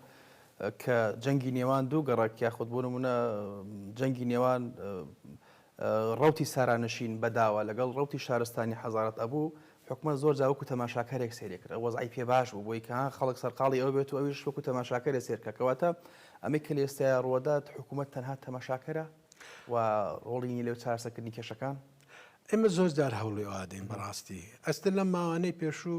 کە جەنگی نێوان دوو گەڕەک یاخود بۆ نموونە جەنگی نێوان ڕەوتی سارانشین بەداوە لەگەڵ ڕەوتی شارستانی حەزارەت ئەبوو، حکومەت زۆر جار وەکو تەماشاکەرێک سەیری کرد، ئەو وەزعی پێ باش بوو بۆی کە ها خەڵک سەرقاڵی ئەوە بێت و ئەویش وەکو تەماشاکەرێ سەیر بکات، کەواتە ئەمەی کە لە ئێستایا ڕووەدات حکومەت تەنها تەماشاکەرە و ڕۆڵی نیە لە چارەسەرکردنی کێشەکان؟ ئێمە زۆر جار هەوڵی ئەوە دەین بەڕاستی ئەستە لەم ماوانەی پێشوو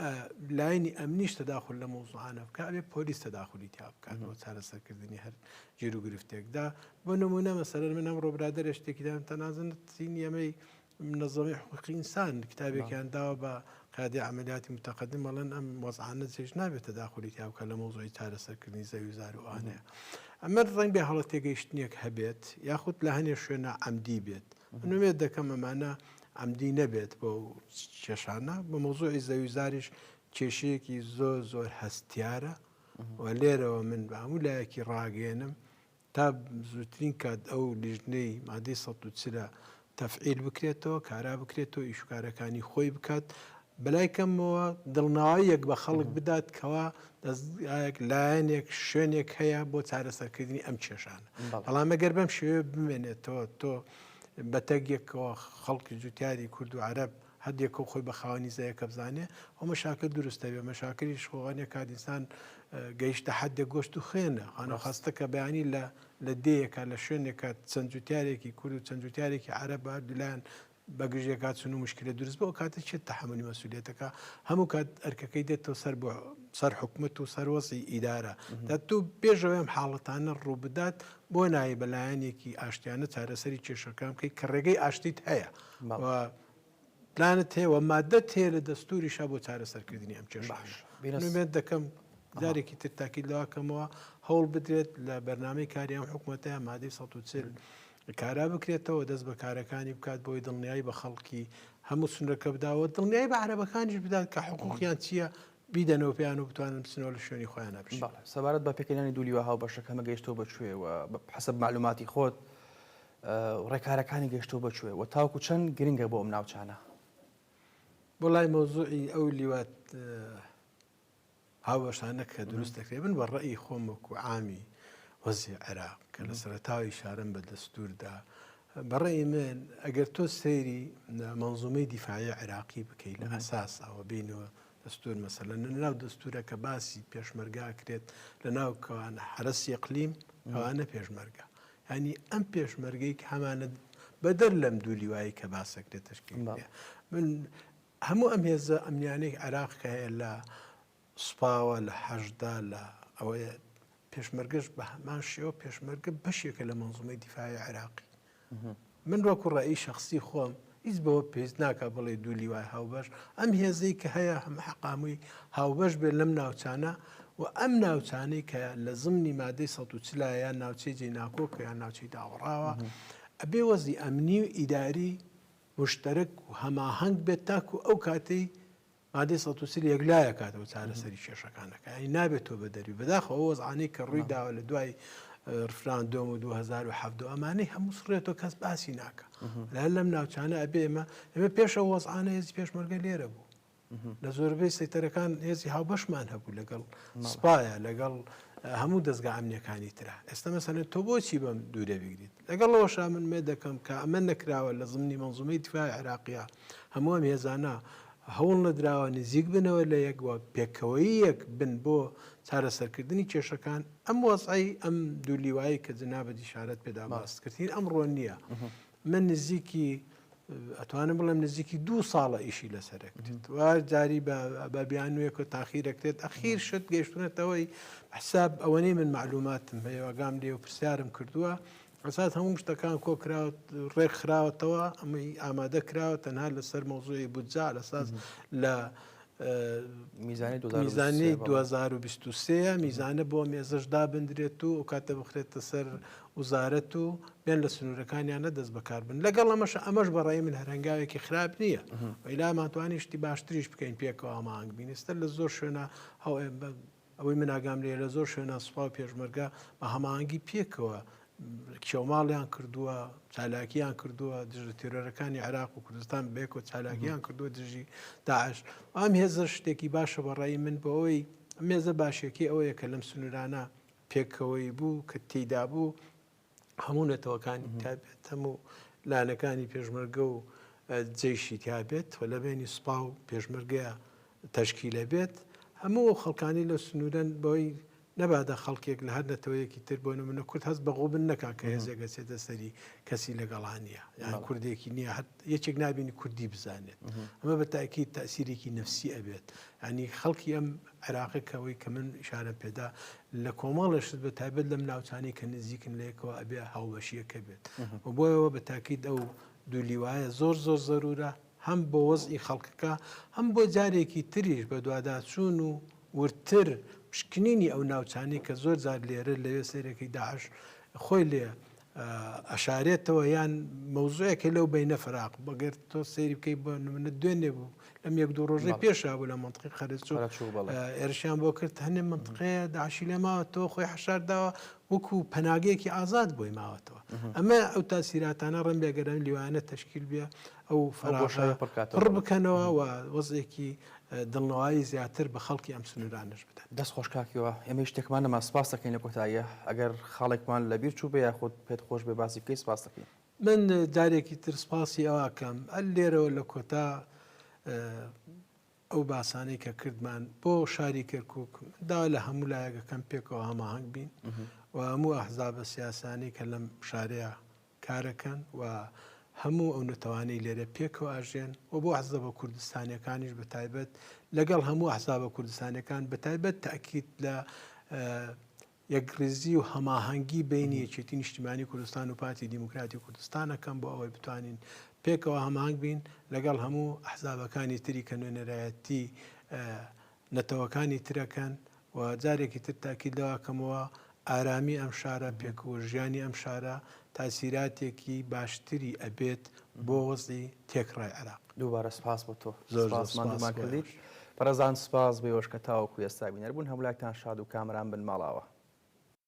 ئە لایەنی ئەمنیش تەداخول لە مەوزوعانە بکا ئەبێ پۆلیس تەداخولی تیا بکات بۆ چارەسەرکردنی هەر گیر و گرفتێکدا بۆ نمونە مەسەلەن من ئەمڕۆ برادەرێ شتێکیدام تەنازنتین ئەمەی منەزەمی حقوقی ئینسان کتابێکیان داوە بە قادی عملیاتی متەقدم مەڵەن ئەم وەزعانە چێش نابێت تەداخلی تیا بکە لە مۆزۆی چارەسەرکردنی زەوی زار و ئانەیە ئەمە ڕنگ بێ هەڵە تێگەیشتنیەک هەبێت یاخود لە هەنێ شوێنە ئەمدی بێت منوێت دەکەم ئەمانە عەمدی نەبێت بۆ ئەو کێشانە بە مەوزوعی زەوی زاریش کێشەیەکی زۆر زۆر هەستیارە و لێرەوە من بە هەموو لایەکی ڕاگەێنم تا زووترین کات ئەو لیژنەی مادی سە چرە تەفعیل بکرێتەوە کارا بکرێتەوە ئیشکارەکانی خۆی بکات بەلای کەمەوە دڵناویەک بە خەڵک بدات کەوا دەستگایەک لایەنێک شوێنێک هەیە بۆ چارەسەرکردنی ئەم کێشانە بەڵام ئەگەر بەم شێوێ بمێنێتەوە تۆ بە تەک یەکەوە خەڵکی جوتیاری کورد و عرب هەردێکەوە خۆی بە خاوەنی زەیەکە بزانێ ئەو مەشاکە دروستە بێ مەشاکەری شخۆوانە کادیسان گەیشتە حدێک گۆشت و خوێنە خانە خستەکە بەیانی لە لە دەیەکە لە شوێنێکە چەند جوتیارێکی کورد و چەند جوتیارێکی عرب بە دولاەن بەگژێکا چون و مشکلە دروست بۆ کاتە چێت تحملی مەسوولێتەکە هەموو کات ئەرکەکەی دێتەوە سەر بۆ سەر حکومت و سەروەسی ئیدارە دە تو پێشەوەم حاڵەتانە ڕووبدات بۆ نایێ بە لایەنێکی ئاشتیانە چارەسەری کێشەکان بکەیت کە ڕێگەی ئاشتیت هەیە و پلانت هەیە و مادە تێ لە دەستوریشا بۆ چارەسەرکردنی ئەم کێش باش بێنمێت دەکەم جارێکی تر تاکی لەواکەمەوە هەوڵ بدرێت لە بەرنمەی کاریان حکوومەتە مادەی 1940 کارا بکرێتەوە دەست بە کارەکانی بکات بۆی دڵنیایی بە خەڵکی هەموو سنرەکە بداوە دڵنیایی بە عربەکانیش بدات کە حقوقیان چییە بیدەنەوە پێیان و بتوانن بچنەوە لە شوێنی خۆیانە بژین. بەڵێ سەبارەت بە پێکهێنانی دوو لیوا هاوبەشە کەمە گەیشتووە بە کوێ و حەسەب مەعلووماتی خۆت ڕێکارەکانی گەیشتووە بە کوێ و تاوەکو چەند گرنگە بۆ ئەم ناوچانە؟ وەڵای مەوزوعی ئەو لیوا هاوبەشانە کە دروست دەکرێت من بە ڕێی خۆم وەکو عامی وەزی عێراق کە لە سەرەتاوی شارەم بە دەستووردا بە ڕەئی من ئەگەر تۆ سەیری مەنزومەی دیفاعی عێراقی بکەیت لە ئەساس ئەوە بینەوە دەستور مەسەلە ناو دەستورە کە باسی پێشمەرگا کرێت لە ناو کەوان حرەسی ئەقلیم ئەوانە پێشمەرگە ینی ئەم پێشمەرگەی کە هەمانە بەدەر لەم دوو لیوایی کە باسەکرێت تشکیل من هەموو ئەم هێزە ئەمنیانێک عێراق کە هەیە لە سوپاوە لە حەشددا لە ئەوەیە پێشمەرگەش بە هەمان شێوە پێشمەرگە بەشێکە لە مەنزومەی دیفاعی عێراقی من وەکو ڕێی شخصی خۆم هیچ بەوە پێست ناکە بڵێ دوو لیوای هاوبەش ئەم هێزەی کە هەیە هەمە حقامووی هاوبەش بێت لەم ناوچانە و ئەم ناوچانەی کە لە زمنی مادەی سە و چلایە ناوچەی جێ ناکۆک یان ناوچەی داوەڕاوە ئەبێ وەزی ئەمنی و ئیداری مشتەرک و هەماهەنگ بێت تاکو ئەو کاتەی مادەی سەد و چل یەکلا ئەکات و چارەسەری کێشەکان ئەکات، یانی نابێت تۆ بەدەروی، بەداخەوە ئەو وەزعانەی کە ڕووی داوە لە دوای ڕفراندۆم و 2017 ئەمانەی هەموو سڕێتەوە کەس باسی ناکە لە هەر لەم ناوچانە ئەبێ ئێمە ئێمە پێش ئەو وەزعانە هێزی پێشمەرگە لێرە بوو لە زۆربەی سەیتەرەکان هێزی هاوبەشمان هەبوو لەگەڵ سپایە لەگەڵ هەموو دەستگا ئەمنیەکانی تررا ئێستا مەسەن تۆ بۆچی بەم دوورە بگریت لەگەڵەوەشا من مێ دەکەم کە ئەمە نەکراوە لە زمنی منزومەی دفاع عراقیە هەموو ئەم هێزانە هەوڵ نەدراوە نزیک بنەوە لە یەک و پێکەوەییەک بن بۆ چارەسەرکردنی کێشەکان، ئەم وەزعەی ئەم دوو لیوایەی کە جنابت ئیشارەت پێدا باست کرد هین ئەمڕۆ نییە. من نزیکی ئەتوانم بڵێم نزیکی دوو ساڵە ئیشی لەسەر ئەکرێت و جاری بە بیانوێک و تاخیر ئەکرێت ئەخیر شت گەشتونەتەوەی حساب ئەوەنەی من معلوماتم هەیەگام لێ و پرسیارم کردووە ئەساس هەموو شتەکان کۆکراوە ڕێکخراوەتەوە ئەمەی ئامادە کراوە تەنها لەسەر مۆزۆی بودجا لەساز لە میزانی 2023 میزانە بۆ مێزش دابدرێت و ئەو کاتە بخرێتە سەر وزارەت و بێن لە سنوورەکانیانە دەست بەکار بن لەگەڵ ئەمەش ئەمەش بەڕێ من هەرنگاوێکی خراپ نییە ئەیلامانتوانیشتی باشتریش بکەین پێکەوە مانگ بینستە لە زۆر شوێنە هەو ئەوەی من ئاگام لێیە لە زۆر شوێنە سوپا و پێشمەرگە بە هەماهەنگی پێکەوە کێوماڵیان کردووە چالاکیان کردووە دژە تێرۆرەکانی عێراق و کوردستان بێک و چالاکیان کردووە دژی داعش ئەم هێزە شتێکی باشە بەڕای من بۆ ئەوی مێزە باشەکەی ئەوەیە کە لەم سنوورانە پێکەوەی بوو کە تێدا بوو هەموو نەتەوەکانی تابێت هەموو لایەنەکانی پێشمەرگە و جەیشی تابێت و لە بینی سوپا و پێشمەرگەیە تەشکیلە بێت هەموو ئەو خەڵکانی لە سنوورەن بۆی نەبادە خەڵکێک لە هەر نەتەوەیەکی تر بۆ منە کورد هەست بە غوبن نەکا کە هێزێکە چێتە سەری کەسی لەگەڵانە یان کوردێکی نییە هەر یەکێک نبینی کوردی بزانێت ئەمە بە تاکی تاسیرێکی نفسی ئەبێت ئەنی خەڵکی ئەم عێراقێک ئەوەی کە من ئیشارەم پێدا لە کۆمەڵێ شت بە تایبەت لەم ناوچانی کە نزیکن لەیەکەوە ئەبێ هاوبەشیەکە بێت و بۆیەوە بە تاکیت ئەو دولیوایە زۆر زۆر زەرورە هەم بۆ وەزئی خەڵکەکە هەم بۆ جارێکی تریش بە دوواداچوون و وردتر پشکنینی ئەو ناوچانی کە زۆر جار لێرە لەوێ سێرەکەی داعش خۆی لێ ئەشارێتەوە یان مەوزوعێکە لەو بینە فراق بەگەر تۆ سەیری بکەیت بە منە دوێنێ بوو لەم یەک دوو ڕۆژی پێشا بوو لە منطقی خەرچ ئێرشیان بۆ کرد هەنێ منطقەیە داعشی لێ ماوە تۆ خۆی حشار داوە وەکو پەناگەیەکی ئازاد بۆی ماوەتەوە ئەمە ئەو تاسیراتانە ڕم بێگەرم لیوانە تشکیل بێ ئەو فەراغە پڕ بکەنەوە و وەزعێکی دڵنەوایی زیاتر بە خەڵکی ئەم سنوورانەش بدەن. دەست خۆش کاک هیوا، ئێمەی شتێکمان نەما سپاست دەکەین لە کۆتاییە ئەگەر خاڵێکمان لە بیر چووبێ یاخود پێت خۆش بێ باسی بکەی سپاست دەکەین. من جارێکی تر سپاسی ئەوە ئەکەم لێرەوە لە کۆتا ئەو باسانەی کە کردمان بۆ شاری کەرکک دا لە هەموو لایەکەکەم پێکەوە هەماهنگ بین و هەموو ئەحزابە سیاسانی کە لەم شارەیە کارەکەن و هەموو ئەو نەتەوانەی لێرە پێکەوە ئەژێن و بۆ ئەحزەبە کوردستانیەکانیش بە تایبەت لەگەڵ هەموو ئەحزابە کوردستانەکان بە تایبەت تاکیت لە یەکڕیزی و هەماهەنگی بینی یەکێتی نیشتیمانی کوردستان و پارتی دیموکراتی کوردستانەکەم بۆ ئەوەی بتوانین پێکەوە هەمانگ بین لەگەڵ هەموو ئەحزابەکانی تری کە نوێنەرایەتی نەتەوەکانی ترەکەن و جارێکی تر تاکید لەوە ئەکەمەوە ئارامی ئەم شارە پێکووژیانی ئەم شارە تاسیراتێکی باشتری ئەبێت بۆ وەزعی تێکڕای عێراق. دووبارە سوپاس بۆ تۆ. زۆر زۆر سوپاس ماندوومان کردیت. بەڕێزان سوپاس بۆ ئێوەش کە تاوەکو ئێستا بینەر بوون. هەموو لایەکتان شاد و کامەران بن ماڵاوا.